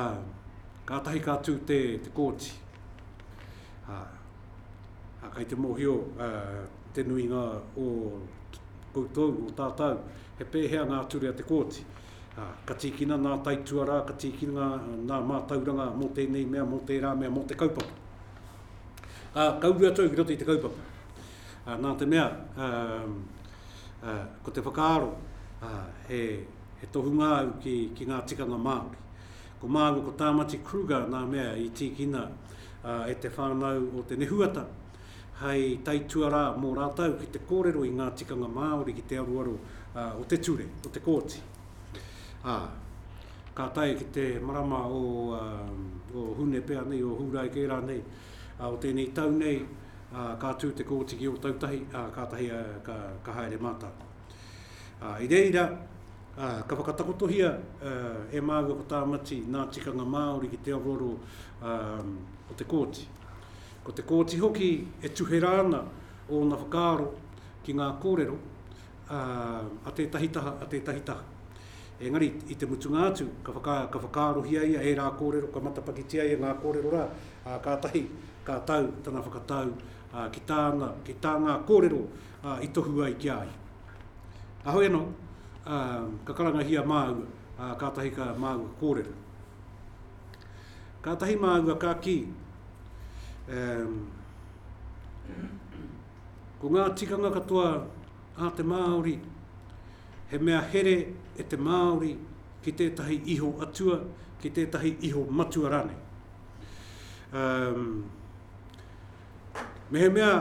S2: kātahi ka tū te, te kōti. Ā, ā, kei te mōhio, ā, te nuinga o koutou, o tātou, He pēhea ngā ture a Te Kooti? Ka tīkina ngā taituarā, ka tīkina ngā mātauranga mō tēnei mea, mō tērā mea, mō te kaupapa. Ā, ka uru atu au ki roto i te kaupapa. Ā, nā te mea, ā, ā, ko te whakaaro, ā, he, he tohunga au ki, ki ngā tikanga Māori. Ko māua ko Tāmati Kruger nā mea i tīkina ā, e te whānau o Te Nehuata, hei taituarā mō rātou ki te kōrero i ngā tikanga Māori ki te aruaro o te ture, o te kōti. Ā, ka tae ki te marama o, o Hune pea nei, o Hūrae kē rānei, ā, o tēnei tau nei, ā, ka tū te kōti ki Ōtautahi, ā, kātahi a, ka, ka haere mātou. Ā, i reira, ā, ka whakatakotohia ā, e māua ko Tāmati nā tikanga Māori ki te aruaro ā, o te kōti. Ko te kōti hoki e tuhera ana ōna whakaaro ki ngā kōrero a tētahi taha, a tētahi taha. Engari, i te mutunga atu, ka, whaka, ka whakaarohia ia ērā kōrero, ka matapakitia ia ngā kōrero rā, ā, kātahi ka tau tana whakatau ki tāna, ki tā ngā kōrero i tohu ai ki a ia. Ahoi anō, ka karangahia māua, kātahi ka māua kōrero. Kātahi māua ka kī, ehm, ko ngā tikanga katoa a te Māori, he mea here e te Māori ki tētahi iho atua, ki tētahi iho matua rānei. Ehm, Mehemea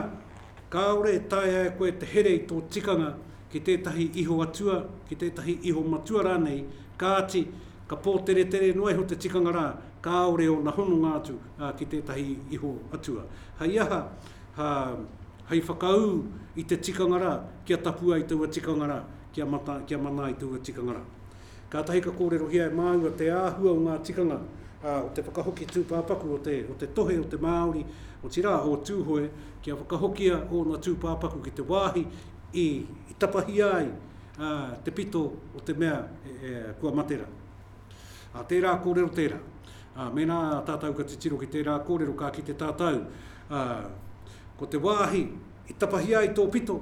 S2: kāore e taea e koe te here i tō tikanga ki tētahi iho atua, ki tētahi iho matua rānei, kāti, ka pōteretere noa iho te tikanga rā, kāore ōna hononga atu ki tētahi iho atua. Hei aha, hei whakaū i te tikanga rā, kia tapu ai taua tikanga rā, kia mana ai taua tikanga rā. Kātahi ka kōrerohia e māua te āhua o ngā tikanga o te whakahoki tūpāpaku o te o te tohe o te Māori, otirā, o Tūhoe, kia whakahokia ōna tūpāpaku ki te wāhi i tapahia ai te pito o te mea kua mate rā. Ā, tērā kōrero tērā. Ā, mēnā tātou ka titiro ki tērā kōrero, ka kite tātou ko te wāhi, I tapahia ai tō pito,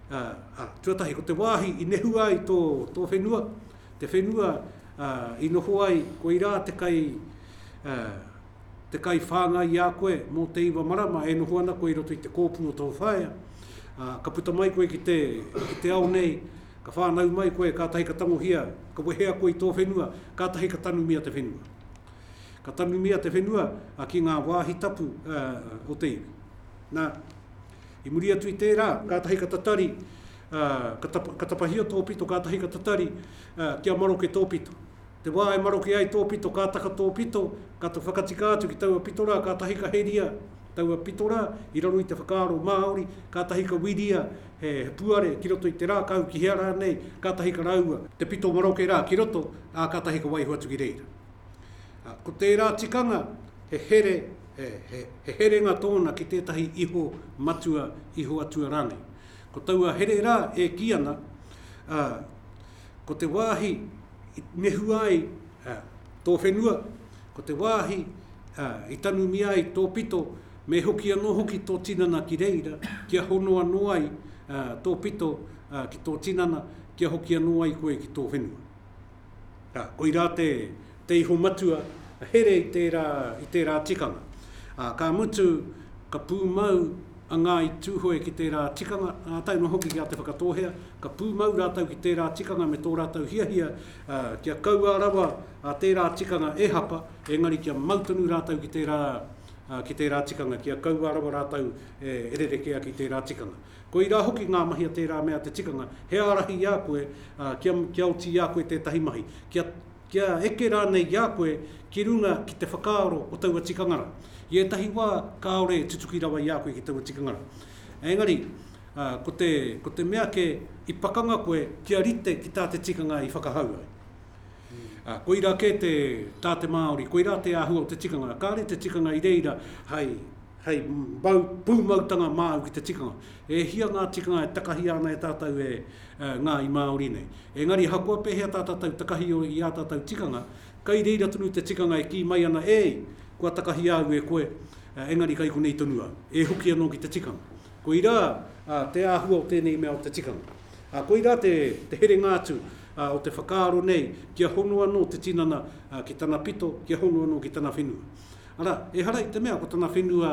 S2: ā, ā, tuatahi ko te wāhi i nehua ai tō, tō whenua, te whenua, ā, i noho ai, koirā te kai, ā, te kai whāngai i a koe mō te iwa marama e noho ana koe i roto i te kōpū o tō whaea, ā, ka puta mai koe ki te, ki te ao nei, ka whānau mai koe, kātahi ka tangohia, ka wehea koe i tō whenua, kātahi ka tanumia te whenua. Ka tanumia te whenua, ā, ki ngā wāhi tapu, ā, o te iwi. Nā, i muri atu i tērā, kātahi ka tatari, ā, ka tapa, ka tapahia tō pito, kātahi ka tatari, ā, kia maroke tō pito. Te wā e maroke ai tō pito, ka taka tō pito, ka to whakatika atu ki taua pito rā, kātahi ka heria taua pito rā i raro i te whakaaro Māori, kātahi ka whiria he, he puare ki roto i te rākau, ki hea rānei, kātahi ka raua te pito maroke rā ki roto, ā, kātahi ka waiho atu ki reira. Ā, ko tērā tikanga, he here, he, he, he herenga tōna ki tētahi iho matua, iho atua rānei. Ko taua here rā e kī ana, ā, ko te wāhi i nehua ai, ā, tō whenua, ko te wāhi, ā, i tanumia ai tō pito, me hoki anō hoki tō tinana ki reira, kia hono anō ai, ā, tō pito, ā, ki tō tinana, kia hoki anō ai koe ki tō whenua. Ā, koirā te, te iho matua, ka here i tērā, i tērā tikanga. Ā, ka mutu, ka pūmau a Ngāi Tūhoe ki tērā tikanga, ā, tae noa hoki ki a Te Whakatōhea, ka pūmau rātou ki tērā tikanga me tō rātou hiahia, ā, kia kaua rawa a tērā tikanga e hapa, engari kia mau tonu rātou ki tērā, ā, ki tērā tikanga, kia kaua rawa rātou e rerekea ki tērā tikanga. Koirā hoki ngā mahi a tērā mea te tikanga, he ārahi i a koe kia, kia oti i a koe tētahi mahi, kia, kia eke rānei i a koe ki runga ki te whakaaro o taua tikanga rā. I ētahi wā kāore e tutuki rawa i a koe ki taua tikanga rā. Engari, ko te, ko te mea kē, i pakanga koe kia rite ki tā te tikanga i whakahau ai. Ā, koirā kē te, tā te Māori, koirā te āhua o te tikanga, kāore te tikanga i reira hai, Hei mau pūmautanga māu ki te tikanga. E hia ngā tikanga e takahia ana e tātou e ngā i Māori nei. Engari ahakoa pēhea tā tātou takahio i ā tātou tikanga, kei reira tonu te tikanga e kī mai ana ēi, kua takahia au e koe, engari kei konei tonu au. E hoki anō ki te tikanga. Koirā te āhua o tēnei mea o te tikanga. Ā, koirā te herenga atu o te whakaaro nei kia hono anō te tinana ki tana pito, kia hono anō ki tana whenua. Arā, ehara i te mea ko tana whenua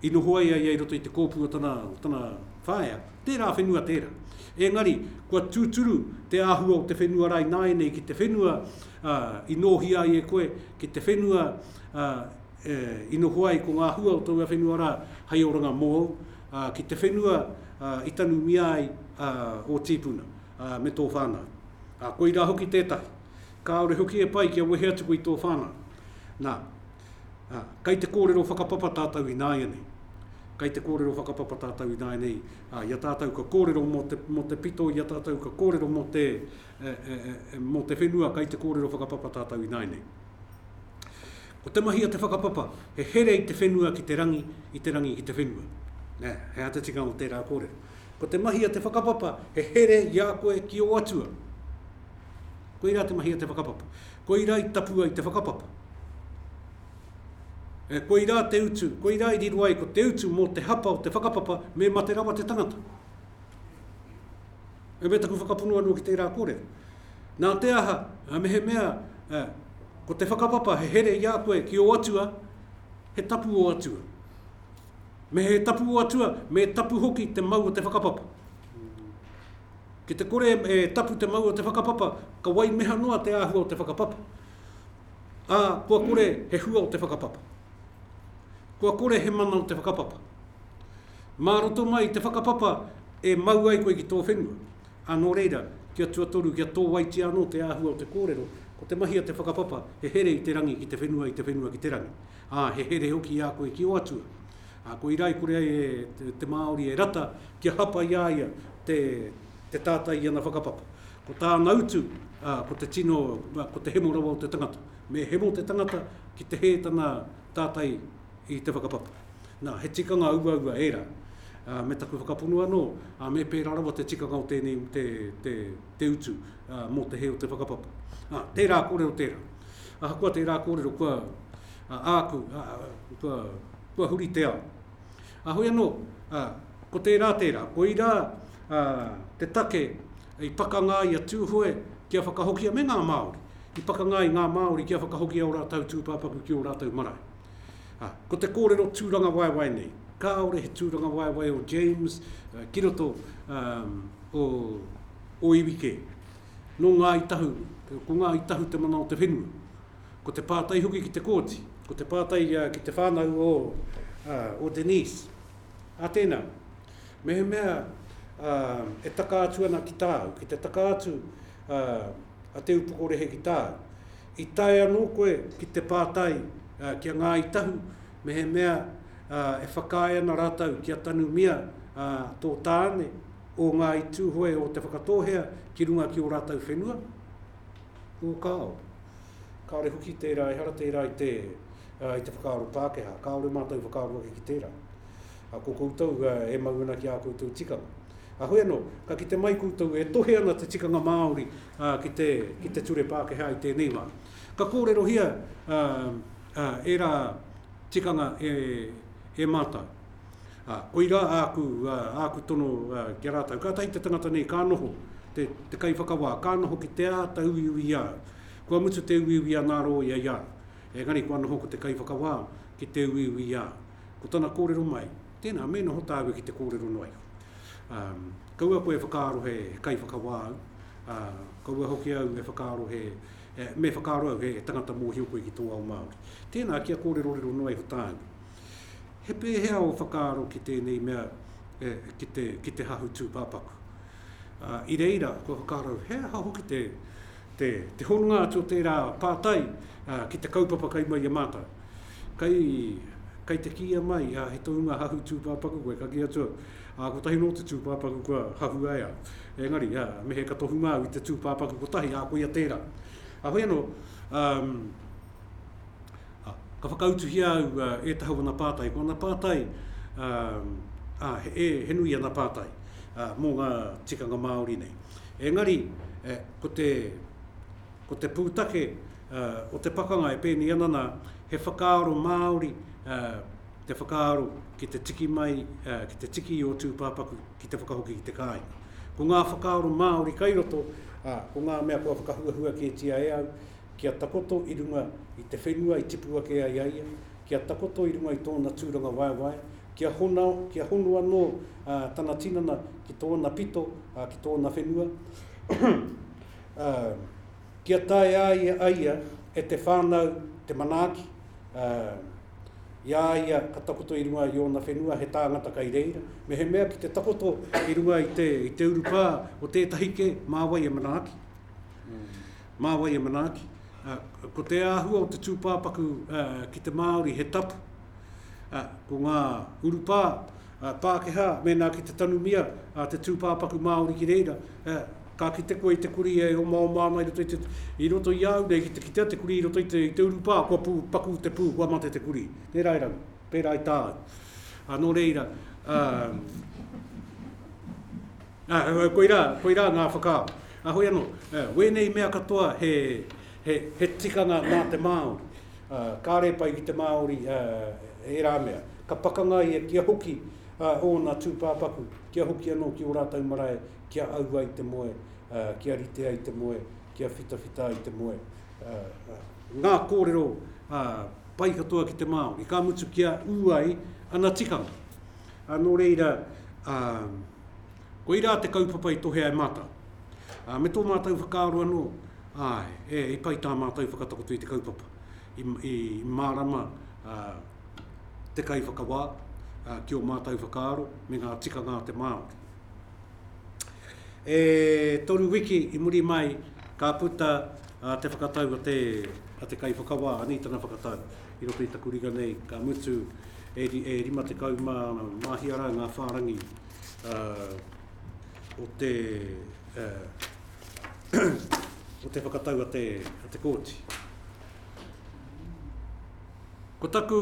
S2: i noho ai a ia i roto i te kōpū o tana, o tana whaea, tērā whenua tērā. Engari, kua tūturu te āhua o te whenua rā ināianei ki te whenua i nōhia ai e koe, ki te whenua e, i noho ai ko ngā hua o taua whenua rā hei oranga mōu, ki te whenua i tanumia ai ō tīpuna me tō whānau. Koirā hoki tētahi. Kāore hoki e pai kia wehe atu koe i tō whānau. Nā, ā, kei te kōrero whakapapa tātou ināianei. Kei te kōrero whakapapa tātou ināianei, ā, i a tātou ka kōrero mō te, mō te pito, i a tātou ka kōrero mō te, e, e, e, mō te whenua, kei te kōrero whakapapa tātou ināianei. Ko te mahi a te whakapapa, he here i te whenua ki te rangi, i te rangi ki te whenua. Nē, he aha te tikanga o tērā kōrero? Ko te mahi a te whakapapa, he here i a koe ki ō atua. Koirā te mahi a te whakapapa. Koirā i tapu ai te whakapapa. E, koirā te utu, koirā i riro ai ko te utu mō te hapa o te whakapapa me mate rawa te tangata. E me taku whakapono anō ki tērā kōrero. Nā te aha, a mehe mea, e, ko te whakapapa he here i a koe ki o atua, he tapu o atua. Me he tapu o atua, me tapu hoki te mau o te whakapapa. Ki te kore e tapu te mau o te whakapapa, ka wai meha noa te āhua o te whakapapa, ā, kua kore he hua o te whakapapa. Kua kore he mana o te whakapapa. Mā roto mai i te whakapapa e mau ai koe ki tō whenua, ā, nō reira, kia tuatoru, kia tōwaitia anō te āhua o te kōrero, ko te mahi a te whakapapa, he here i te rangi ki te whenua, i te whenua ki te rangi, ā, he here hoki i a koe ki ō Atua. Ā, ko Irai kore ai e te Māori e rata kia hapa i a ia te tātai i ana whakapapa. Ko tāna utu, ā, ko te tino, ko te hemo rawa o te tangata. Me hemo te tangata ki te hē tana tātai i te whakapapa. Nā, he tikanga auaua ērā. Ā, me taku whakapono anō, ā, me pērā rawa te tikanga o tēnei, te, te, te utu, ā, mō te hē o te whakapapa. Ā, tērā kōrero tērā. Ahakoa tērā kōrero, kua, A āku, a, kua, kua huri te ao. A hoi anō, a, ko tērā tērā, koirā a, te take i pakanga ai a Tūhoe kia whakahokia, me ngā Māori, i pakanga ai ngā Māori kia whakahokia ō rātou tūpāpaku ki ō rātou marae. A, ko te kōrero tūrangawaewae nei, kāore he tūrangawaewae o James a, ki roto a, o, o iwi kē. Nō Ngāi Tahu, ko Ngāi Tahu te mana o te whenua. Ko te pātai hoki ki te kōti, ko te pātai ki te whānau o Denise, a tēnā, mehemea e taka atu ana ki tāu, ki te taka atu a Te Upokorehe ki tāu, i tae anō koe ki te pātai ki a Ngāi Tahu mehemea e whakaae ana rātou kia tanumia tō tāne o Ngāi Tūhoe o Te Whakatōhea ki runga ki ō rātou whenua? Ūkao. Kāore hoki tērā, ehara tērā i te, i te whakaaro Pākehā. Kāore mātou whakaaro ake ki tērā. Ko koutou e mau ana ki ā koutou tikanga. Heoi anō, ka kite mai koutou e tohe ana te tikanga Māori ki te, ki te ture Pākehā i tēnei wā. Ka kōrerohia ērā tikanga e, e mātou. Ā, koirā āku, āku tono ki a rātou, kātahi te tangata nei ka noho, te, te kaiwhakawā, ka noho ki te āta uiui i a au. Kua mutu te uiui a ngā rōia i a au, engari kua noho ko te kaiwhakawā ki te uiui i a au. Ko tana kōrero mai, tēnā, me noho tāua ki te kōrero noa iho. Ā, kaua koe e whakaaro he, he kaiwhakawā au, ā, kaua hoki au e whakaaro he, me whakaaro au he, he tangata mōhio koe ki tō ao Māori. Tēnā, kia kōrerorero noa iho tāua. He pēhea ō whakaaro ki tēnei mea ki te hahu tūpāpaku? I reira, kua whakaaro he aha hoki te hononga atu o tērā pātai ki te kaupapa kai mai i a mātou? Kai te kīia mai he tohunga hahu tūpāpaku koe, ka kī atu au, ā, kotahi nō te tūpāpaku kua hahua e au. Engari, me he ka tohunga au i te tūpāpaku kotahi, ā, koia tērā. Heoi anō, Ā, ka whakautuhia au e Tahau ana pātai, ko ana pātai, ā, he, he nui ana pātai mō ngā tikanga Māori nei. Engari, ko te, ko te pūtake o te pakanga e pēnei ana nā, he whakaaro Māori te whakaaro ki te tiki mai, ki te tiki i ō tūpāpaku ki te whakahoki ki te kāinga. Ko ngā whakaaro Māori kai roto, ā, ko ngā mea kua whakahuahua kētia e au, Kia takoto i runga i te whenua i tipu ake ai a ia, kia takoto i runga i tōna tūrangawaewae, kia hono, kia hono anō tana tinana ki tōna pito, ki tōna whenua, kia tae a ia, a ia e te whānau te manaaki, i a ia ka takoto i runga i ōna whenua he tāngata kei reira, mehemea ki te takoto i runga i te urupā o tētahi kē, mā wai e manaaki. Mā wai e manaaki, ko te āhua o te tūpāpaku ki te Māori he tapu. Ko ngā urupā Pākehā, mēnā ki te tanumia te tūpāpaku Māori ki reira, ka kite koe i te kurī e omaoma ana i roto i te, i roto i a au nei ki te kitea te kurī i roto i te, i te urupā, kua pū, paku te pū, kua mate te kurī. Tērā e raru, pērā i tāu. Nō reira, Koirā, koirā ngā whakaaro. Ahoi anō, wēnei mea katoa he tikanga mā te Māori. Kāre pai ki te Māori ērā mea. Ka pakanga ia kia hoki ōna tūpāpaku, kia hoki anō ki ō rātou marae, kia au ai te moe, kia rite ai te moe, kia whitawhita ai te moe. Ngā kōrero pai katoa ki te Māori, ka mutu kia ū ai ana tikanga. Nō reira. Koirā te kaupapa i tohea e mātou. Ā, me tō mātou whakaaro anō, āe, e, i pai tā mātou whakatakoto i te kaupapa, i, i mārama ā, te kaiwhakawā ā, ki ō mātou whakaaro me ngā tikanga a te Māori. E toru wiki i muri mai ka puta ā, te whakatau a te, a te kaiwhakawā, anei tana whakatau i roto i taku ringa nei, ka mutu e 51 rā ngā whārangi o te o te whakatau a te kōti. Ko taku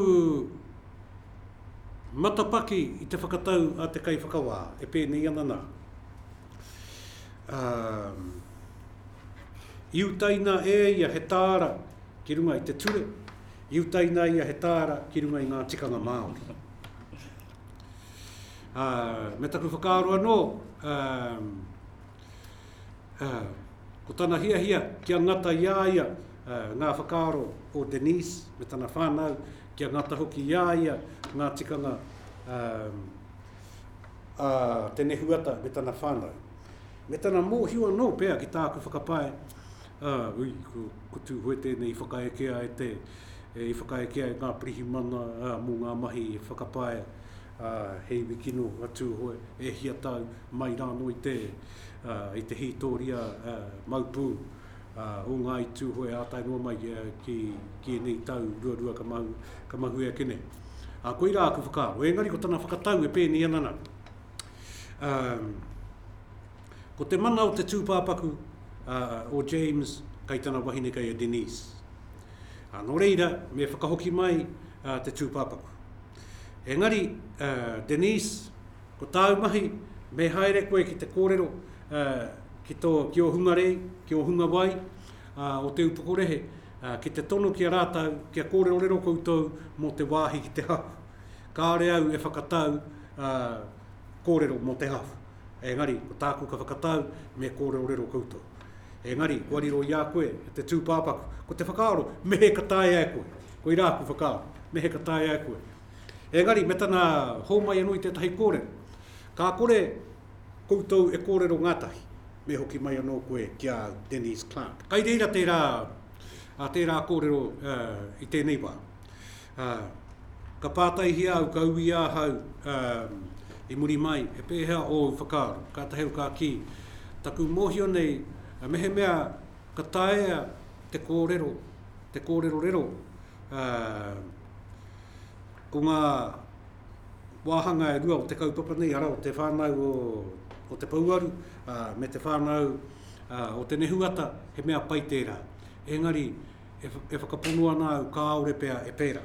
S2: matapaki i te whakatau a te kaiwhakawā e pēnei ana nā. I utaina e ia he tāra ki runga i te ture, I utaina ia he tāra ki runga i ngā tikanga Māori. Uh, me taku whakaaro anō, uh, uh, ko tana hiahia kia ngata i a ia uh, ngā whakaaro o Denise me tana whānau, kia ngata hoki i a ia ngā tikanga um, a te nehuata me tana whānau. Me tana mōhio anō pea ki tāku whakapae, ā, ui, ko, ko Tūhoe tēnei i whakaekea e te, i whakaekea e ngā pirihimana, ā, mō ngā mahi e whakapae, ā, he iwi kino a Tūhoe, e hia tau, mai rānō i te, ā, i te hītōria, ā, mau pū, ā, o Ngāi Tūhoe ā tae noa mai ki, ki ēnei tau ruarua ka mahue, ka mahue ake nei. Ā, koirā aku whakaaro. Engari ko tana whakatau e pēnei ana nā. Um, ko te mana o te tūpāpaku uh, o James kai tana wahine kai a Denise. Uh, nō reira, me whakahoki mai uh, te tūpāpaku. Engari, uh, Denise, ko tāu mahi, me haere koe ki te kōrero uh, ki, tō, ki o hunga rei, ki o hunga wai, uh, o te upokorehe, uh, ki te tono ki a rātau, kia kōrerorero koutou mō te wāhi ki te hahu. Kāore au e whakatau a kōrero mō te hau. Engari, ko tāku ka whakatau me kōrerorero koutou. Engari, kua riro i a koe te tūpāpaku, ko te whakaaro, me he ka taea e koe. Koirā aku whakaaro, me he ka taea e koe. Engari, me tana hōmai anō i tētahi kōrero, ka kore koutou e kōrero ngātahi, me hoki mai anō koe ki a Denise Clarke. Kai reira tērā, tērā kōrero i tēnei wā. Ā, ka pātaihia au, ka ui ahau, ā, i muri mai, he pēhea ōu whakaaro? Kātahi au ka kī, Taku mōhio nei, mehemea ka taea te kōrero, te kōrerorero, ā, ko ngā wāhanga e rua o te kaupapa nei, arā, o te whānau o, o te pouaru, ā, me te whānau, ā, o te nehuata, he mea pai tērā. Engari, e whakapono ana au kāore pea e pērā,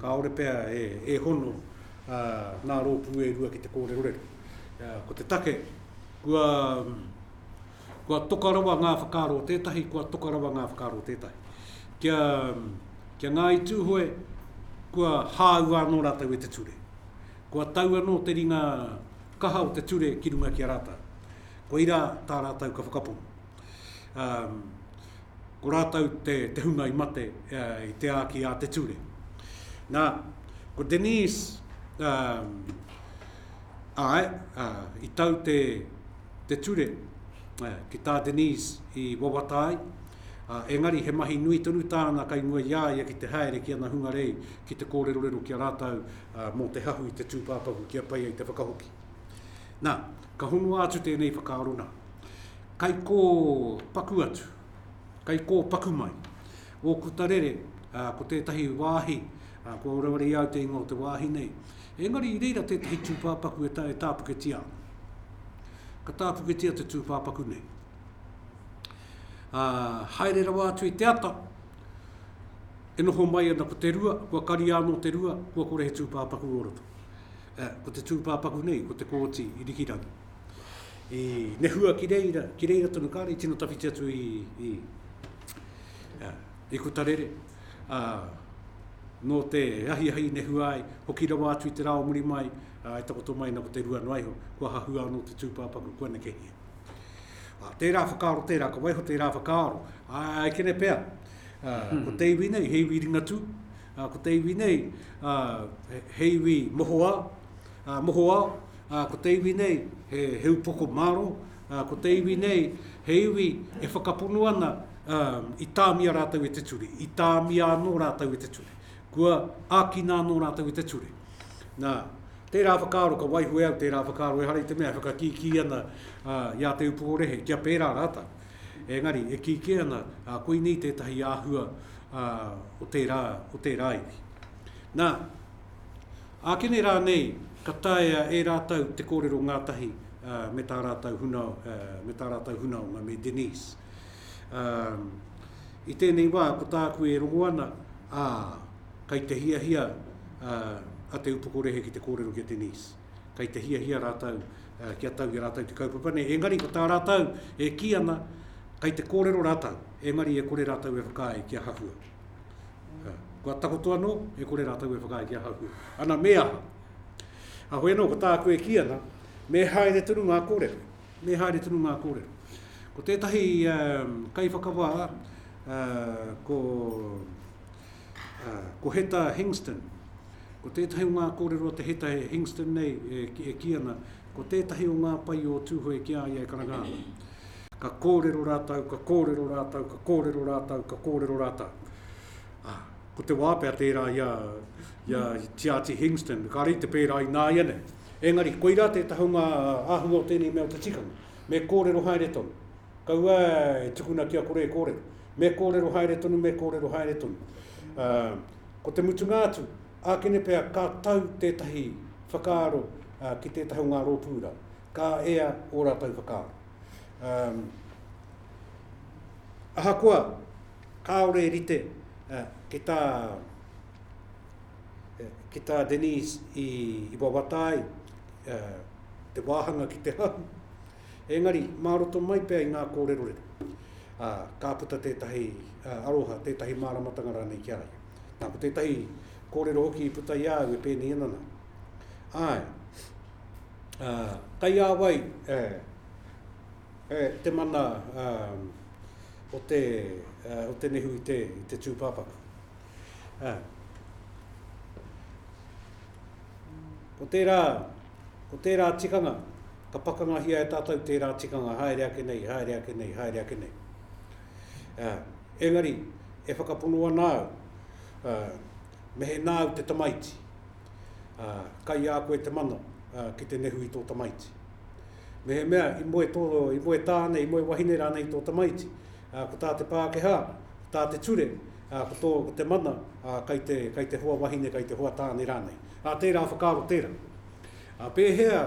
S2: kāore pea e, e hono ā, ngā rōpū e rua ki te kōrerorero. Ā, ko te take, kua, kua toka rawa ngā whakaaro o tētahi, kua toka rawa ngā whakaaro o tētahi. Kia, kia Ngāi Tūhoe, kua hāua anō rātou e te ture. Kua tau anō te ringa kaha o te ture ki runga ki a rātou. Koirā tā rātou ka whakapono. Ko rātou te hunga i mate i te āki a te ture. Nā, ko Denise, āe, i tau te ture ki tā Denise i wawata ai, engari he mahi nui tonu tāna kei mua i a ia ki te haere ki ana hungarei ki te kōrerorero ki a rātou mō te hahu i te tūpāpaku kia pai ai te whakahoki. Nā, ka honoa atu tēnei whakaaro nā, kai kō paku atu, kai kō paku mai. Ōku tarere, ko tētahi wāhi, kua wareware i au te ingoa o te wāhi nei, engari i reira tētahi tūpāpaku e tāpuketia ana. Ka tāpuketia te tūpāpaku nei. Haere rawa atu i te ata, e noho mai ana ko te rua, kua kari anō te rua, kua kore he tūpāpaku o roto. Ko te tūpāpaku nei, ko Te Kooti i Rikirangi. I nehua ki reira, ki reira tonu kāre, i tino tawhiti atu i, i, i Kutarere. Uh, nō te ahiahi nehua ai, hoki rawa atu i te rāo muri mai, uh, e takoto mai na ko te rua noaiho, kua hahua anō te tūpāpaku, kua nekehia. Uh, tērā whakaaro tērā, ka waiho tērā whakaaro. Uh, I kene pea, Ā, ko te iwi nei, he iwi Ringatū. Ā, ko te iwi nei, ā, he, he iwi mohoā, ā, mohoao. Ā, ko te iwi nei, he, he upoko māro. Ā, ko te iwi nei, he iwi e whakapono ana, ā, i tāmia rātou e te ture, i tāmia anō rātou e te ture. Kua ākina anō rātou i te ture. Nā, tērā whakaaro, ka waiho e au tērā whakaaro ehara i te mea e whakakīkī ana, ā, i a Te Upoko Rehe, kia pērā rātou. Engari, e kī kē ana, ā, koinei tētahi āhua o tērā, o tērā iwi. Nā, ākene rānei ka taea e rātou te kōrero ngātahi me tā rātou huna, me tā rātou hunaonga, me Denise. Ā, i tēnei wā, ko tāku e rongo ana, ā, kai te hiahia a Te Upoko Rehe ki te kōrero ki a Denise. Kei te hiahia rātou kia tau i a rātou te kaupapa nei, engari ko tā rātou e kī ana, kei te kōrero rātou, engari e kore rātou e whakaae kia hahua. Kua takoto anō, e kore rātou e whakaae kia hahua. Ana, me aha? Ahoi anō, ko tāku e kī ana, me haere tonu ngā kōrero. Me haere tonu ngā kōrero. Ko tētahi um, kaiwhakawā, uh, ko Ko Heta Hingston. Ko tētahi o ngā kōrero a te Heta Hingston nei e kī ana, ko tētahi o ngā pae o Tūhoe ki a ia e karanga ana. Ka kōrero rātou, ka kōrero rātou, ka kōrero rātou, ka kōrero rātou. Ko te wā pea tērā i a Tiati Hingston, kāre i te pērā ināianei. Engari, koirā tētahi o ngā āhua o tēnei mea o te tikanga, me kōrero haere tonu. Kaua e tukuna kia kore e kōrero. Me kōrero haere tonu, me kōrero haere tonu. Ā, ko te mutunga atu, ākene pea ka tau tētahi whakaaro ki tētahi o ngā rōpū rā. Ka ea ō rātou whakaaro. Ā, ahakoa kāore e rite ki tā, ki tā Denise i wawata ai te wāhanga ki te hau, Engari, mā roto mai pea i ngā kōrerorero, ā, ka puta tētahi aroha, tētahi māramatanga rānei ki a ia. Nā, ko tētahi kōrero hoki i puta i a au e pēnei ana nā, Āe, ā, kei a wai e, e, te mana, ā, o te, ā, o te nehu i te, i te tūpāpaku? Ā, ko tērā, Ko tērā tikanga, ka pakangahia e tātou tērā tikanga haere ake nei, haere ake nei, haere ake nei. Ā, engari, e whakapono ana au, ā, mehena au te tamaiti, ā, kai a koe te mana, ā, ki te nehu i tō tamaiti. Mehemea i moe tō, i moe tāne, i moe wahine rānei tō tamaiti, ā, ko tā te Pākehā, ko tā te ture, ā, ko tō, ko te mana, ā, kai te, kai te hoa wahine, kai te hoa tāne rānei. Ā, tērā whakaaro tērā. Ā, pēhea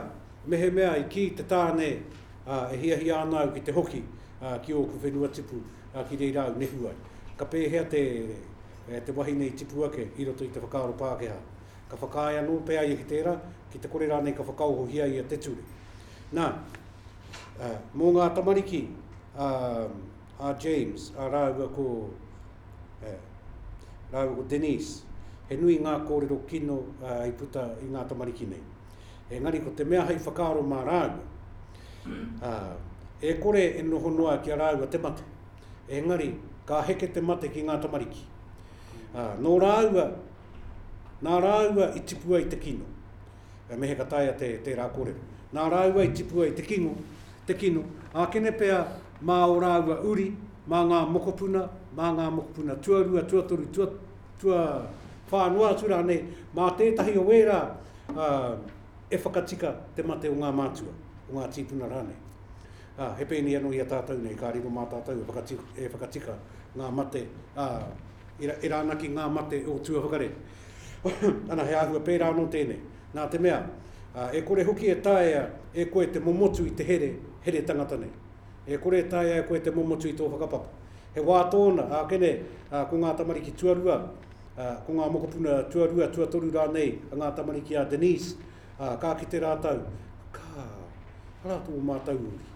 S2: mehemea i kī te tāne, ā, e hiahia ana au ki te hoki, ā, ki ōku whenua tipu, ā, ki reira au nehu ai? Ka pēhea te, e, te wahine i tipu ake i roto i te whakaaro Pākehā? Ka whakaae anō pea ia ki tērā, ki te kore rānei ka whakaohohia ia te ture? Nā, ā, mō ngā tamariki, ā, a James, ā, rāua ko, ā, rāua ko Denise. He nui ngā kōrero kino, ā, i puta i ngā tamariki nei. Engari ko te mea hei whakaaro mā rāua, ā, e kore e noho noa ki a rāua te mate. Engari, ka heke te mate ki ngā tamariki. Ā, nō rāua, nā rāua i tipua i te kino. He mehe ka taea te, tērā kōrero. Nā rāua i tipua i te kingo, te kino, ākene pea mā ō rāua uri, mā ngā mokopuna, mā ngā mokopuna tuarua, tuatoru, tua, tua whā noa atu rānei, mā tētahi o ērā ā, e whakatika te mate o ngā mātua, o ngā tīpuna rānei. Ā, he pēnei anō i a tātou nei, ka riro mā tātou e whakatika, e whakatika ngā mate, ā, e, e rānaki ngā mate o tuawhakarere. Ana, he āhua pērā anō tēnei, nā te mea, e kore hoki e taea e koe te momotu i te here, here tangata nei. E kore e taea e koe te momotu i tō whakapapa. He wā tōna, ake nei, ko ngā tamariki tuarua, ko ngā mokopuna tuarua, tuatoru rānei a ngā tamariki a Denise, ka kite rātou, ka, arā tō mātou uri.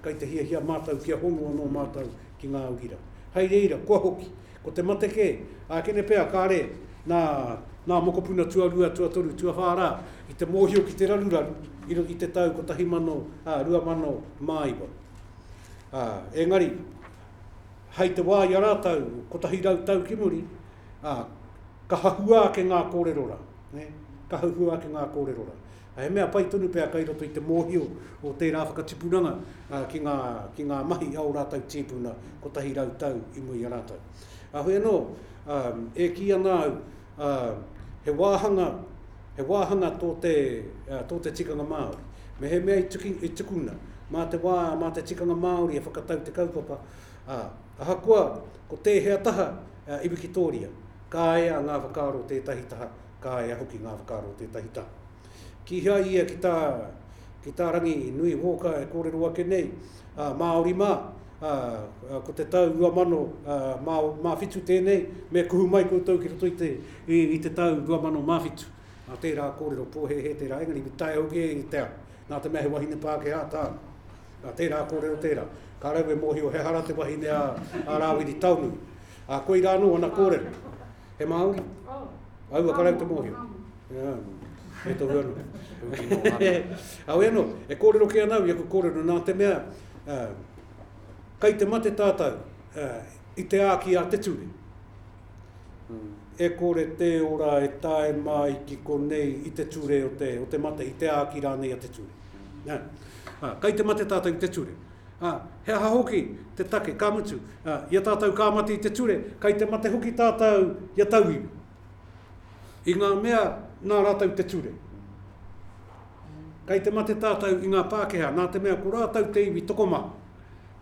S2: Kai te hiahia mātou kia hono anō mātou ki ngā uri rā. Hai reira, kua hoki. Ko te mate kē, ā, kene pea, kāre, nā, nā mokopuna tuarua, tuatoru, tuawhā rā, i te mōhio ki te raruraru i, i te tau 1209. Ā, engari, hei te wā i a rātou, kotahi rau tau ki muri, ā, ka hahua ake ngā kōrero rā, nē, ka hahua ake ngā kōrero rā. He mea pai tonu pea kei roto i te mōhio o tērā whakatipuranga ki ngā, ki ngā mahi a ō rātou tīpuna kotahi rau tau i mua i a rātou. Heoi anō, e kī ana au, he wāhanga, he wāhanga tō te, tō te tikanga Māori. Mehemea i tuki, i tukuna, mā te wā, mā te tikanga Māori e whakatau te kaupapa, ā, ahakoa ko tēhea taha i wikitōria, ka ea ngā whakaaro tētahi taha Ka ea hoki ngā whakaaro o tētahi taha. Kīhai ia ki tā, ki tā Rangi nui Hawker e kōrero ake nei, ā, Māori mā, ā, ko te tau 2000, ā, mā, mā whitu tēnei, me kuhu mai koutou ki roto i te, i, i te tau 2000 mā whitu. Nā tērā kōrero, pōhēhē tērā, engari me tae hoki e i te ao. Nā te mea he wahine Pākehā tāna. Nā tērā kōrero tērā. Ka raua e mōhio he hara te wahine a, a Rāwiri Taonui. Ā, koirā anō ana kōrero. He Māori? Oh. Au a karau te mōhio. Yeah. E tohu anu. Au e no, e kōrero ki anau, i aku kōrero, nā te mea, uh, kai te mate tātou uh, i te āki a te ture. Hmm. E kore te ora e tae mai ki konei i te ture o te, o te mate, i te āki rānei a te ture. Hmm. Yeah. Uh, kai te mate tātou i te ture. Ā, he aha hoki te take, ka mutu, ā, i a tātou ka mate i te ture, kei te mate hoki tātou i a tauiwi. I ngā mea nā rātou te ture. Kei te mate tātou i ngā Pākehā, nā te mea ko rātou te iwi tokomaha,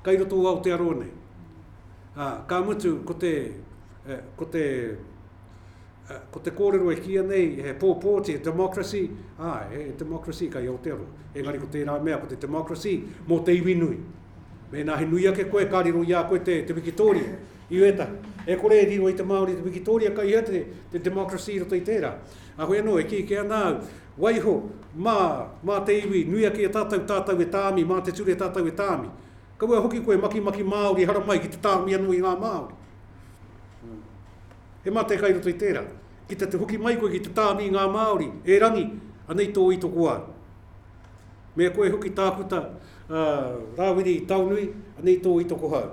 S2: kei roto o Aotearoa nei. Ā, ka mutu, ko te, eh, ko te, ko te kōrero e kīia nei, he pōpōti, he democracy, ā, he democracy kai Aotearoa. Engari ko tērā mea, ko te democracy mō te iwi nui. Mēnā he nui ake koe, ka riro i a koe te, te wikitōria, i wētahi. E kore e riro i te Māori te wikitōria, kai hea te, te democracy i roto i tērā. A koe anō, e kī ke ana au, waiho, mā, mā te iwi, nui ake e tātou, tātou e tāmi, mā te ture tātou e tāmi. Kaua hoki koe, makimaki Māori, haramai ki te tāmi anō i ngā Māori. He mate kai roto i tērā. Ki te te hoki mai koe ki te tāmi i ngā Māori, e Rangi, anei tō itokoa. Mea koe hoki tākuta, a, Rāwiri Taonui, anei tō itokohau.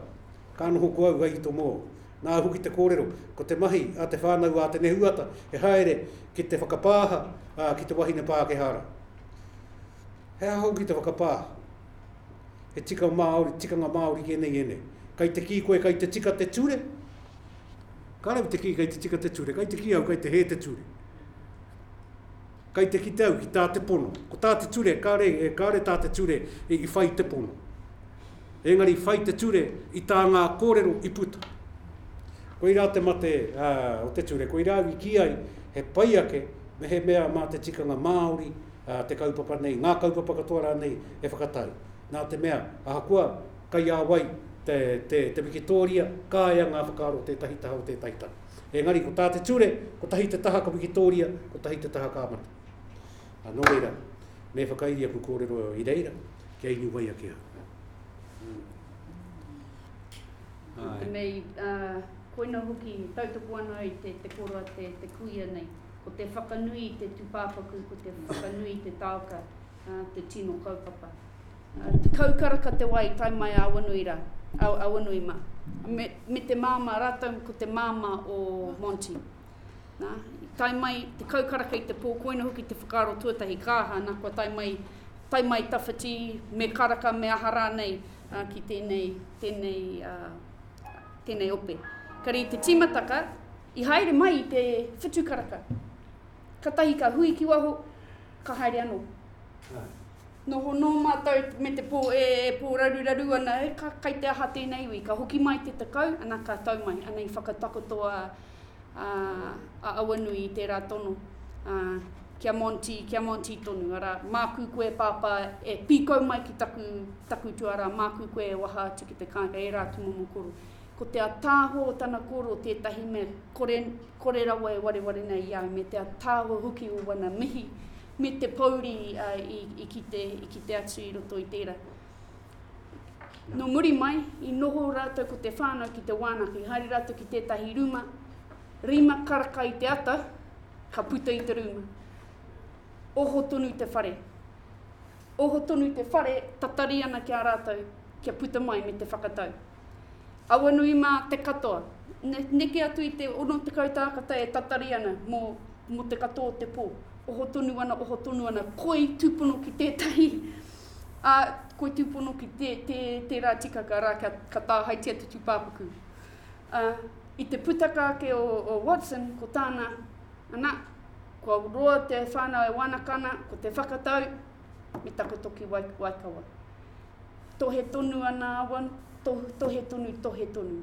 S2: Ka noho ko au hai ito mō. Nāu hoki te kōrero, ko te mahi a te whānau a Te Nehuata he haere ki te whakapāha, a, ki te wahine Pākehā ra. He aha hoki te whakapāha? He tika Māori, tikanga Māori ki enei, enei. Kai te kī koe kai te tika te ture? Ka rawe te kī kei te tika te ture, kei te kī au kei te hē te ture. Kei te kite au ki tā te pono. Ko tā te ture, kāre, e, kāre tā te ture i, i whai te pono. Engari i whai te ture i tā ngā kōrero i puta. Koi rā te mate uh, o te ture, koi rā i kī ai he pai ake me he mea mā te tikanga Māori uh, te kaupapa nei, ngā kaupapa katoa rānei e whakatai. Nā te mea, ahakoa Kei a wai te, te, te wikitōria, kāea ngā whakaaro o tētahi taha o tētahi taha. Engari, ko tā te ture, kotahi te taha ka wikitōria, kotahi te taha ka mate. Ā, nō reira, me whakairi aku kōrero i reira, kia inu wai ake au. Nā
S3: tenei, ā, koina hoki, tautoko ana ai te, te koroa, te, te kuia nei. Ko te whakanui i te tūpāpaku, ko te whakanui i te taoka, ā, te tino kaupapa. Tekau karaka te wā i tae mai a Awanui rā, a Awanui mā. Me, me te māmā, rātou ko te māmā o Monty. Nā, i tae mai, tekau karaka i te pō, koina hoki te whakaaro tuatahi, ka aha, nā, kua tae mai, tae mai tawhiti, me karaka, me aha rānei, ā, ki tēnei, tēnei, ā, tēnei ope. Kare i te tīmataka, i haere mai i te whitu karaka. Katahi ka hui ki waho, ka haere anō. Noho nō mātou me te pō e pōraruraru ana, e, ka, kai te aha tēnei iwi? Ka hoki mai te tekau, ana ka tau mai, ana i whakatakoto a, a, a Auanui i tērā tono, a, Kia Monty, kia Monty tonu, arā, māku koe pāpā e pīkau mai ki taku, taku tuarā, māku koe e waha atu ki te kāinga, ērā atu momo koro. Ko te ataahua o tana koro tētahi mea kore, kore rawa e wareware nei i a au, me te ataahua hoki o wana mihi, Me te pōuri i kite, i kite atu i roto i tērā. Nō muri mai, i noho rātou ko te whānau ki te wānaka. I haere rātou ki tētahi rūma, rima karaka i te ata, ka puta i te rūma. Oho tonu te whare. Oho tonu te whare, tatari ana ki a rātou, kia puta mai me te whakatau. Awanui mā te katoa. Neke atu i te 60 tākata e tatari ana mō, mō te katoa o te pō. Oho tonu ana, oho tonu ana, koi tūpono ki tētahi, ā, koi tūpono ki tē, tē, tērā tikaka rā kia, ka tāhaitia te tūpāpaku. Ā, i te putaka ake o, o Watson, ko tāna, ana, kua roa te whānau e wānaka ana, ko te whakatau, me taku toki waikawa. Tohe tonu ana awa, tohu, tohe tonu, tohe tonu.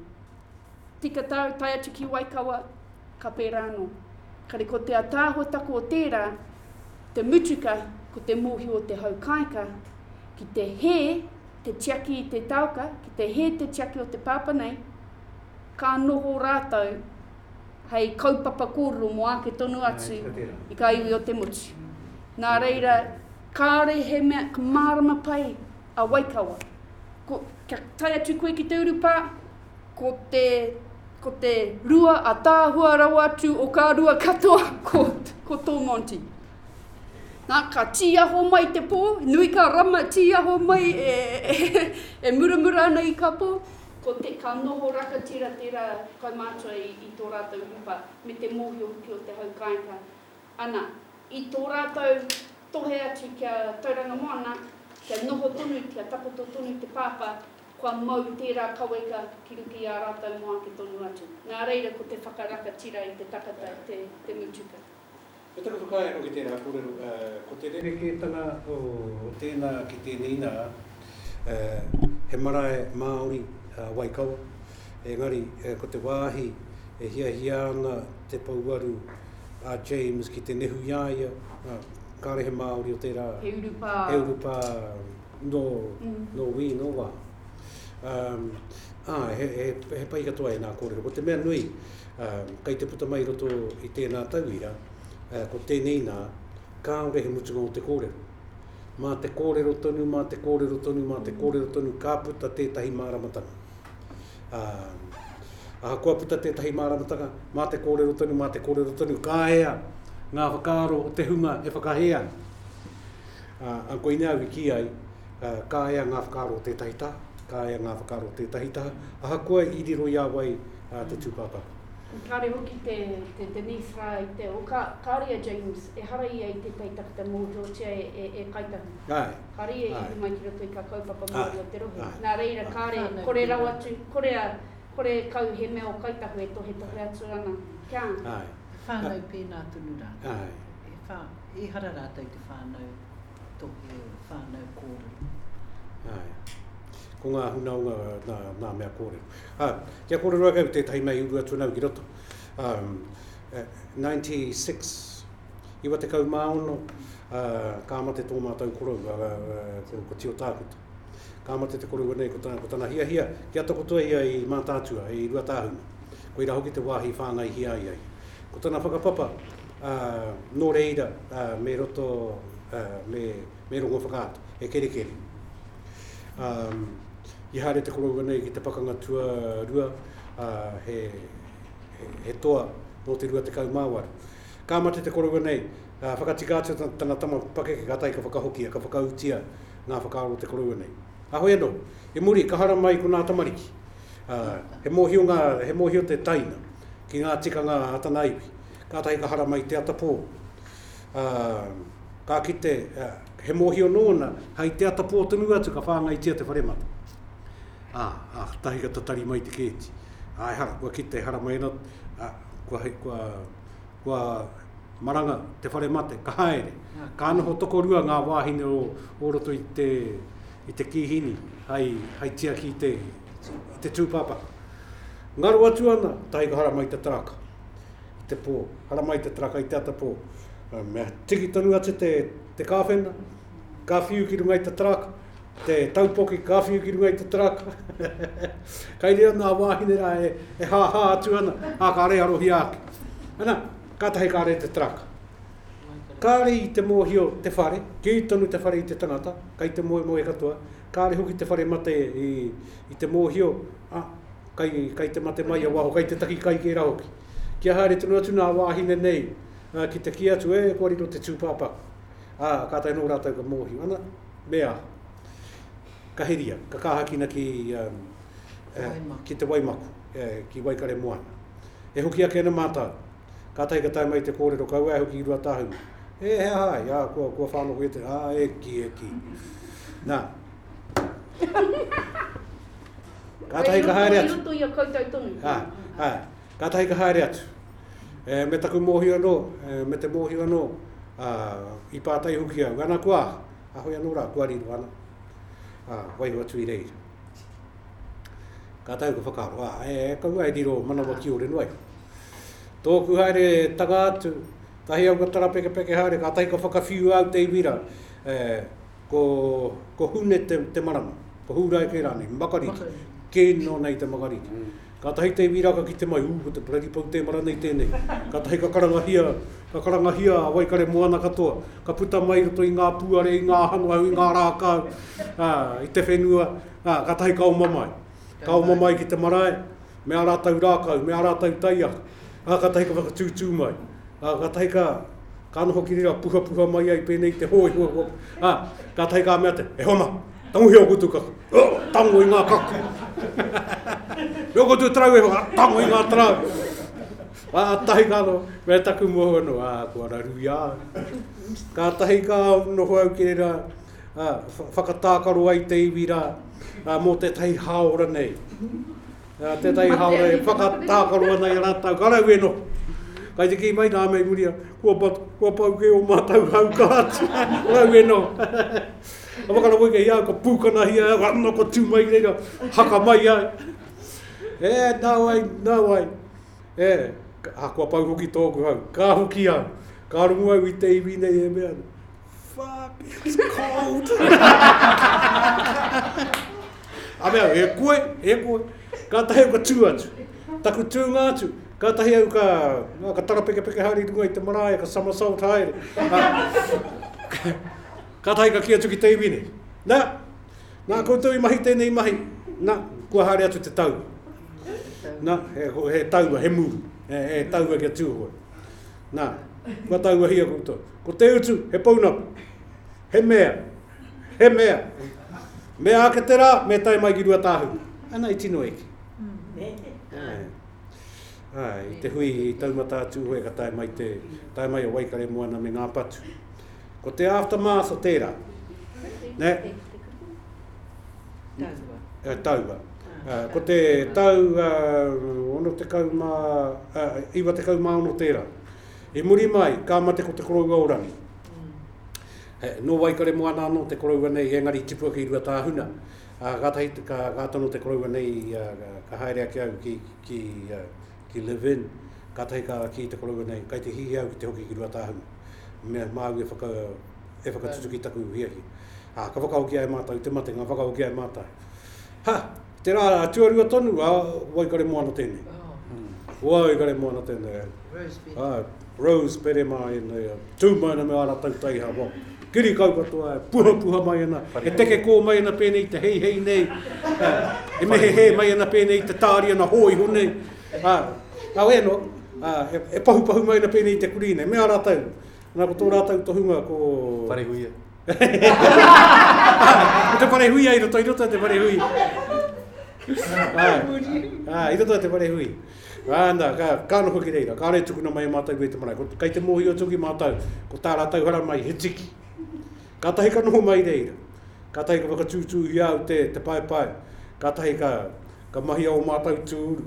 S3: Tika tau, tae atu ki waikawa, ka pērā anō. Kare ko te ataahuataku o tērā, te mutuka ko te mōhio o te hau kāika, ki te hē te tiaki i te taoka, ki te hē te tiaki o te pāpa nei, ka noho rātou, hei kaupapa kōrero mō āke tonu atu i kā iwi o te motu. Nā reira, kāore he mea ka mārama pai a Waikawa. Ko, kia tae atu koe ki te urupā, ko te, ko te rua ataahua rawa atu o kā rua katoa, ko, ko tō Monty. Nā, ka tīaho mai te pō, nui kā rama tīaho mai e, e, e muramura ana i kā pō, Ko te, ka noho rakatira tera kaumātua i, i tō rātou rupa, me te mōhio hoki o te hau kāinga. Ana, i tō rātou tohe atu kia tauranga moana, kia noho tonu, kia takoto tonu te pāpā, kua mau tērā kaweka ki ruku i ā rātou moa ake tonu atu. Nā reira, ko te whakarakatira i te takata te, te mutuka. He take
S2: whakaae anō ki tērā kōrero, ko te rerekētanga o tēnā ki tēnei nā, he marae Māori a Waikawa, engari ko te wāhi e hiahia ana te pouaru a James ki te nehu i a ia, kāre he Māori o tērā, he urupā nō wī, nō wā. Āe, he pai katoa ēnā kōrero. Ko te mea nui, Kei te puta mai i roto i tēnā tauira, ko tēnei nā, kāore he mutunga o te kōrero. Mā te kōrero tonu, mā te kōrero tonu, mā te kōrero tonu ka puta tētahi māramatanga. Ā, ahakoa puta tētahi māramatanga, mā te kōrero tonu, mā te kōrero tonu, ka ea ngā whakaaro o te hunga e whakahē ana. Ā, ā, koinei au i kī ai, ā, ka ea ngā whakaaro o tētahi taha, ka ea ngā whakaaro o tētahi taha, ahakoa i riro i a wai, a te tūpāpaku. Kāre hoki
S3: te Denise rā i te o kāre a James ehara ia i tētahi takata mōhiotia e Kāi Tahu. Kāre ia i uru mai ki roto i kā kaupapa Māori o te rohe. Nā reira kāre kore rawa atu, kore a, kore e kau he mea o Kāi Tahu e tohetohe atu ana kia. Whānau
S4: pēnā tonu rā. Ehara rātou te whānau tohe, whānau kōrero.
S2: Ko ngā hunaonga nā mea kōrero. Ā, kia kōrero ake au tētahi mea i uru atu ana au ki roto. Ā, 96, 96, ā, ka mate tō mātou korou, ā, ko Tio Tākuta. Ka mate te korou nei, ko tana, ko tana hiahia, kia takoto ia i Mātaatua, i Ruatāhuna. Koirā hoki te wāhi i whāngaihia ai ia. Ko tana whakapapa, ā, nō reira, ā, me roto, ā, me, me Rongowhakaata, he kerekere. Um, i haere te korou nei ki te pakanga tua rua, uh, he, he, he toa nō te rua te kaumāwaru. Ka mate te korou nei, uh, whakatika atu tana tama pakeke, ka tai ka whakahokia, ka whakautia ngā whakaaro o te korou nei. A hoi anō, i muri, ka hara mai ko nā tamariki. Uh, he mōhio ngā, he mōhio te taina ki ngā tikanga a tana iwi. Kātahi ka hara mai te atapō. ā, ka kite, ā, he mōhio nōna, hei te ata pō tonu atu ka whāngaitia te whare mata. Ā, ā, tahi ka tatari mai te kēti. Ā, ehara, kua kite, ehara mai ana, ā, kua hei, kua, kua maranga te whare mate, ka haere. Ka noho tokorua ngā wāhine o, o roto i te, i te kīhini hei, hei tiaki i te, i te tūpāpaku. Ngaro atu ana, tahi ka hara mai te taraka. i te pō. Haramai te taraka i te atapō. Mea tiki tonu atu te, te kāwhena, ka whiu ki runga i te taraka, te taupoki ka whiu ki runga i te taraka. Kai reo nā wāhine rā e, e hā hā atu ana, ā kā rei arohia ake. Ana, kātahi kā rei te taraka. Kā rei te mōhio te whare, kī tonu te whare i te tangata, kai te moe moe katoa, kā rei hoki te whare mate i, i te mōhio, a, kai te mate mai ia waho, kai te taki kai tērā hoki. Kia haere tonu atu nā wāhine nei ki te kī atu, e, kua riro te tūpāpaku. Ā, kātahi anō rātou ka mōhio, ana, me aha? Ka heria, ka kāhakina ki te waimaku, ki Waikaremoana. E hoki ake ana mātou, kātahi ka tae mai te kōrero, kaua e hoki i Ruatāhuna. E, he aha ai? Ā, kua whānau koe i te, ā, e kī, e kī. Nā. Kātahi ka haere atu. Kei roto
S3: i a koutou tonu. Āe,
S2: kātahi ka haere atu. E, me taku mōhio anō, e, me te mōhio anō, ā, i pātai hoki au, ana kua, a hoi anō rā, kua riro ana. Ā, waiho atu i reira. Kātahi ka whakaaro, ā, e, e kaua e riro manawa ki ore noai. Tōku haere tanga atu, tahi au ka tarapekepeke haere, kātahi ka whakawhiu au te iwi rā, e, Ko Hune te marama, ko Hūraeke rānei, Makariri, kē nō nei te makariri. Kātahi te iwi rāka ki te mai, ū, ko te bloody Poutemara nei tēnei. Kātahi ka karangahia, ka karangahia a Waikare moana katoa, ka puta mai i roto i ngā pūare, i ngā hano au, i ngā rākau, ā, i te whenua, ā, kātahi ka oma mai. Ka oma mai ki te marae. me ā rātou rākau, me ā rātou taiao, ā, kātahi ka whakatūtū mai, ā, kātahi ka, ka noho ki reira puhapuha mai ai pēnei i te hōi, hua, hua, ā, kātahi ka mea te, e hona, tangohia o koutou kaku, ā, tango i ngā kaku, me o koutou tarau e hoa, tango i ngā tarau, ā, tahi ka noho, me taku moho anō, ā, kua raru i a au. Kātahi ka noho au ki reira, ā, whakatākaro ai te iwi rā, ā, mō tētahi hāora nei, ā, tētahi hāora e whakatākaro ana i a rātou, ka raue noho. Kai te kī mai nā mei muri, kua, pa, kua pau kē o mātou hau ka atu, raue noho. Ka whakarapo i kei au, ka pūkanahia au, anō ka tū mai reira, haka mai ai. E, nā wai, nā wai. E, ka, kua pau hoki tōku hau, ka hoki au, ka rongu au i te iwi nei e mea, Fuck, it's cold! A mea, e koe, e koe. Kātahi au ka tū atu. Taku tūnga atu, kātahi au ka, no, ka tarapekepeke haere runga i te marae, ka somersault haere. kātahi ka ki atu ki te iwi nei. Nā, nā koutou i mahi tēnei mahi. Nā, kua haere atu te tau. Nā, he, he taua, he mūru. He, he taua kia tūhoe. Nā, kua tauwahia koutou. Ko te utu, he pounamu. He mea, he mea. Me āke te rā, me tae mai ki Ruatāhuna. Ana i tino eke. Ai. Ai, te hui i taumata atu, hoi ka tae mai, te, tae mai o Waikare Moana me ngā patu. Ko te aftermath o tērā. Nē? Taua. Uh, taua. Uh, ko te tau uh, ono te kau mā, uh, iwa te kau mā ono tērā. I muri mai, ka mate ko te koroua o rangi. Mm. He, no waikare mo ana anō te koroua nei, engari tipua ki rua tāhuna. Uh, gātahi, ka, gātano te koroua nei, uh, ka haere ake au ki, ki uh, ki Levin, kātahi ka kī te koroua nei, kai te hihi au ki te hoki ki Ruatāhuna, mea māu e whaka, e whakatutuki taku hiahia. Ā, ka whakahoki ai mātou i te matenga, whakahoki ai mātou. Ha! Te rā tuarua tonu, ā, waikare moana tēnei. Waikare moana tēnei. Rose Peremā ēnei, tū mai ana me ā rātou taihawa. Kiri kau katoa e puhapuha mai ana, e tekekō mai ana pēnei i te heihei nei, e mehehē mai ana pēnei i te tāri ana hōiho nei, ā, nā wai anō, ā, e pahupahu mai ana pēnei i te kurī nei. Me a rātou, nā, ko tō rātou tohunga ko... Parehuia. ko te parehuia i roto, i roto te parehui. ā, ā, i roto te parehui. Ana, ka noho ki reira, kāore e tukuna mai e mātou koe te marae. Kei te mōhio tuki mātou, ko tā rātou haramai he tiki. Kātahi ka noho mai reira, kātahi ka whakatūtūhia au te, te paepae, kātahi ka, ka mahia o mātou tūru,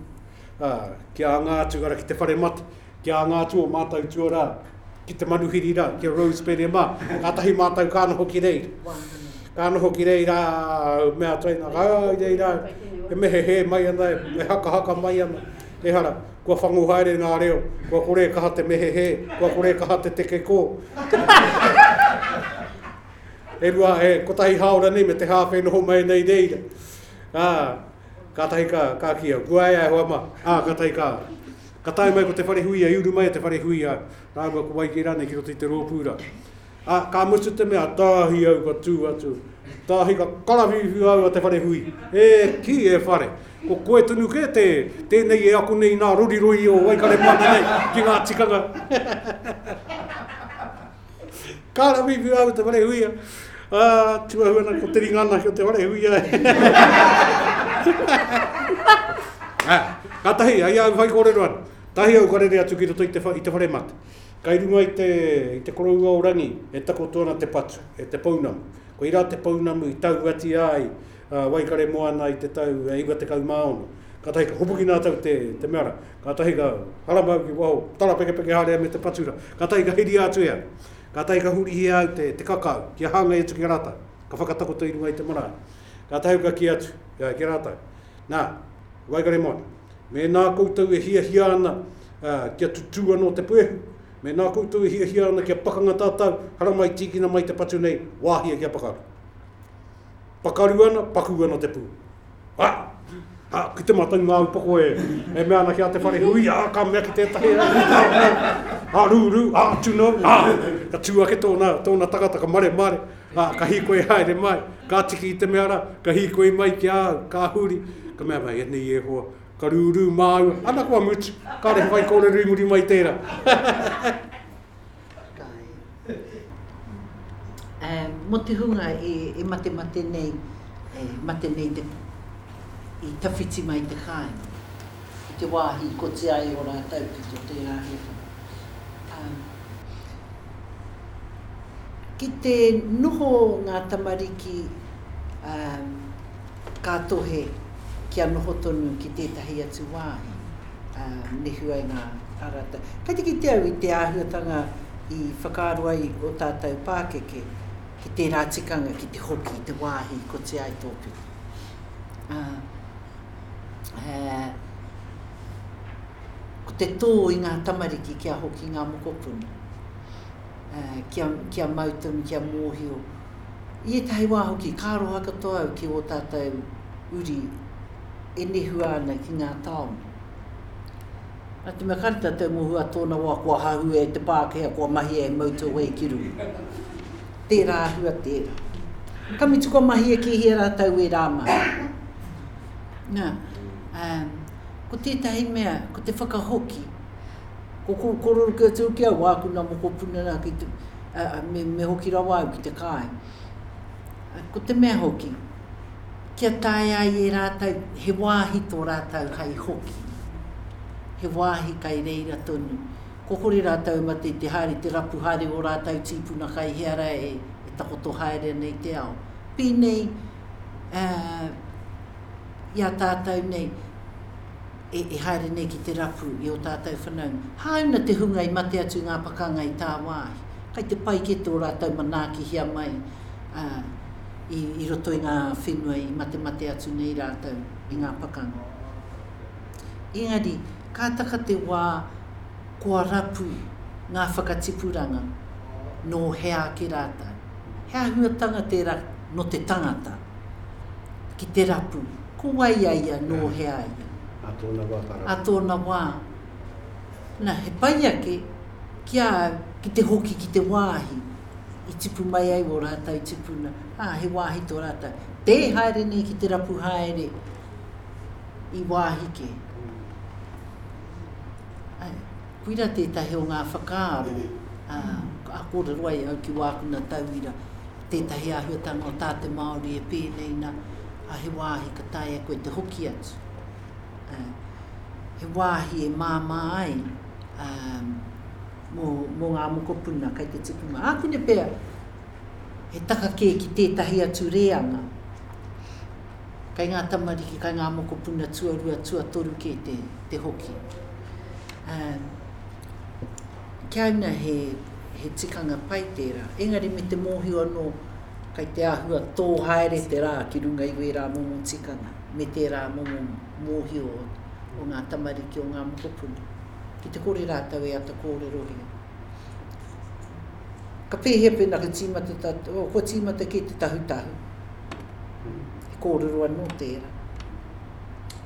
S2: ā, kia anga atu, ara, ki te whare mate, kia anga atu o mātou tuarā, ki te manuhiri rā, ki a Rose Pere mā. Kātahi mātou ka noho ki reira. Ka noho ki reira, me a Traina, ka aa, i reira, e mehe he mai ana, e hakahaka mai ana, e hara, kua whangu haere ngā reo, kua kore e kaha te mehe he, kua kore e kaha te teke kō. e rua, e kotahi haora nei, me te hāwhe e noho mai nei reira. Aa, kātahi ka, ka kia, kua ea e hoa mā, aa, kātahi ka, Ka tae mai ko Te Wharehuia i uru mai e Te Wharehuia rāua ko Waikei rānei ki roto i te rōpū rā. Ā, ka mutu te mea, tāhi au ka tū atu. Tāhi ka karawhiuwhiu au a Te Wharehui. E kī, e Whare, ko koe tonu kē te, tēnei e ako nei i nā roriroi o Waikaremoana nei ki ngā tikanga. Kāre whiwhi rāua te wharehuia. Ā, tū au ana ko te ringa ana ki o te wharehuia. Ā, kātahi, ai au whai kōrero ana. Tahi au ka rere atu ki roto i te, i te whare mate. Kai runga i te, i te koroua o Rangi e takoto ana te patu, e te pounamu. Koirā te pounamu i tauatia ai a Waikaremoana i te tau 96. Kātahi ka hopuki nā tau te, te mea rā. Kātahi ka haramau ki waho tarapekepeke haere me te patura. Kātahi ka hiria atu e au. Kātahi ka hurihia au te, te kakau, kia hāngai atu ki a rātou. Ka whakatakoto i runga i te marae. Kātahi ka kī atu ki a rātou, Nā, waikare mai. Mēnā koutou e hiahia ana kia tutū anō te puehu, mēnā koutou e hiahia ana kia pakanga tātou, haramai tīkina mai te patu nei, wāhia kia pakaru. Pakaru ana, pakū ana te pū. Ha! Ha! Ki te mātou ngā upoko e, e mea ana ki a te whare hui, ha! Ka mea ki tētahi, ha! Ha! Rū! Rū! Ha! To know! Ha! Ka tū ake tōna, tōna tangata, ka mare! Mare! Ha! Ka hīkoi haere mai, ka tiki i te mea rā, ka hīkoi mai ki a au, ka huri, ka mea, Mai anei e hoa, ka rū! Rū! Māua, ana kua mutu, kāre whaikōrero i muri mai tērā.
S4: Whakaae. Mō te hunga e matemate nei, e mate nei te, i tawhiti mai te kāinga ki te wāhi i koti ai ō rātou ki tō tērā hiahia. Ki te noho ngā tamariki, Ka tohe kia noho tonu ki tētahi atu wāhi, ā, me huaina a rātou. Kei te kite au i te āhuatanga i whakaaro ai ō tātou pākeke ki tērā tikanga ki te hoki i te wāhi i koti ai tō pito. Ā, ā, ko te tō i ngā tamariki kia hoki ngā mokopuna, ā, kia, kia mau tonu, kia mōhio, I ētahi wā hoki, ka aroha katoa au ki ō tātou uri e nehua ana ki ngā tāone. Nā te mea kāre tātou mō hua tōna wā kua hahua e te Pākehā kua mahia he motorway ki runga. Tērā hua tērā. Ka mutu kua mahia ki hea rātou wē rā mā. Nā, ā, ko tētahi mea, ko te whakahoki, Ko kou korero kia tū ki au, āku nā mokopuna rā ki te, me hoki rawa au ki te kāi. Ko te mea hoki, kia taea ai e rātou, he wāhi tō rātou hai hoki, he wāhi kai reira tonu. Kua kore rātou e mate i te haere, i te rapu haere o ō rātou tīpuna kai hea rā e takoto haere ana i te ao. Pēnei i a tātou nei. e haere nei ki te rapu i ō tātou whanaunga. Hāuna te hunga i mate atu ngā pakanga i tāwāhi, kai te pai kē tō rātou manaakihia mai, ā, i roto i ngā whenua i matemate atu nei rātou i ngā pakanga. Engari, ka taka te wā kua rapu ngā whakatipuranga nō hea ake rātou. He āhuatanga tērā nō te tangata. ki te rapu. Ko wai a ia, nō hea a ia? Ā tōna wā ka rapu. Ā tōna wā. Na, he pai ake ki a au ki te hoki ki te wāhi i tipu mai ai ō rātou tupuna, ā, he wāhi tō rātou. Tē haere nei ki te rapu haere i wāhi kē. Ae, koira tētahi o ngā whakaaro, ā, ka kōrero ai au ki wāku na tauira. tētahi āhuatanga o tā te Māori e pēnei na, ā, he wāhi ka taea koe te hoki atu. Ā, he wāhi e māmā ai, ā, mō, mō ngā mokopuna kei te tipunga. Ākune pea, he taka kē ki tētahi atu rēanga, kei ngā tamariki, kei ngā mokopuna tuarua, tuatoru kē te, te hoki. Ā. Kia ina he, he tikanga pai tērā. Engari me te mōhio anō, kai te āhua tō haere te rā ki runga i wērā momo tikanga, me tērā momo mōhio o, o ngā tamariki o ngā mokopuna, ki te kore rātou e ata kōrerohia. Ka pēhea pēnā ka tīmata tā, oh, kua tīmata kē te tahutahu? He kōrero anō tērā.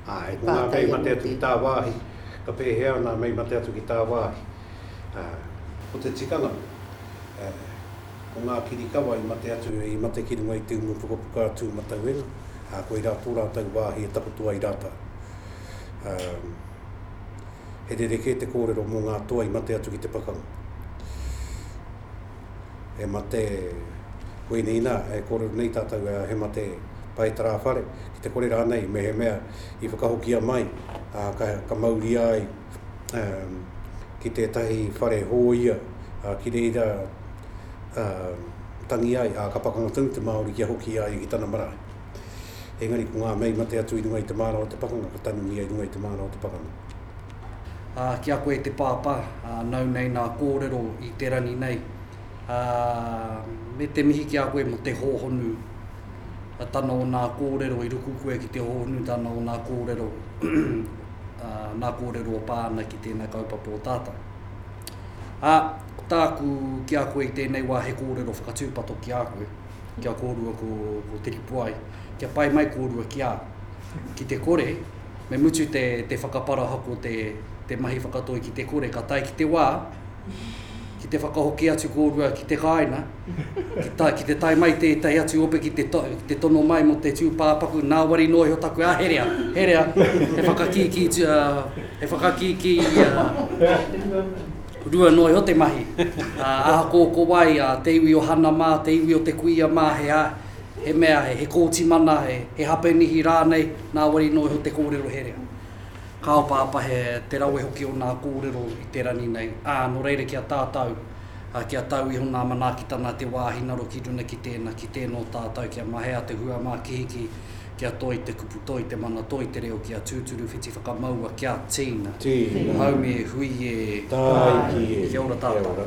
S2: Āe, ko ngā kei mate atu ki tā wāhi, Ka pēhea nā mei mate atu ki tāwāhi? Ā, ko te tikanga, ā, ko ngā kirikawa i mate atu, i mate ki runga i te umu pukapuka a Tūmatauenga, ā, koirā tō rātou wāhi e takoto ai rātou. Ā, he rerekē te kōrero mō ngā toa i mate atu ki te pakanga. e mate, koinei inā, e kōrero nei tātou ā, he mate pae tarāwhare, ki te kore rānei, mehemea i whakahokia mai, ā, ka, ka mauria ai, ā, ki tētahi whare hōia, ā, ki reira, ā, tangi ai, ā, ka pakanga tonu te Māori kia hoki i a ia ki tana marae. Engari ko ngā mei mate atu i runga i te māra o te pakanga, ka tanumia i runga i te māra o te pakanga. Ā, ki a koe te
S1: Pāpā, ā, nau nei nā kōrero i te rangi nei, ā, me te mihi ki a koe mō te hōhonu a tana o nā kōrero i ruku koe ki te hōhonu tana o nā kōrero, ā, nā kōrero o pā ana ki tēnā kaupapa o tātau. Ā, ko tāku ki a koe i tēnei wā he kōrero whakatūpato ki a koe, kia kōrua ko, ko Tiripuai, kia pai mai kōrua ki a, ki te kore, Me mutu te, te whakaparahako, te, te mahi whakatoi ki te kore, ka tae ki te wā, ki te whakahoki atu kōrua ki te kāinga, ki, ta, ki te tae mai tētahi atu ope ki te, to, ki te tono mai mō te tūpāpaku, nā wari noa iho taku, a herea, herea, he whakakīkī, uh, he whakakīkī, uh, rua noa iho te mahi. Uh, aha kō ko wai, uh, te iwi o Hanamā, te iwi o te kuia mā, he, He mea, he kōti mana, he hapenihi rānei, nāwari nō iho te kōrero herea. Ka opaopa he te rawe hoki o nā kōrero i te rangi nei, ā, nō reira ki a tātau, kia tau iho nā manaakitanga a te wā hinaro ki runga ki tēnā, ki tēnō tātau kia mahea te huamākihiki, kia toi te kupu, toi te mana, toi te reo, kia tūturu whiti whakamaua, kia tīna. Tīna. Haumi e
S2: hui e.
S1: Tāiki e. Kia ora tātau.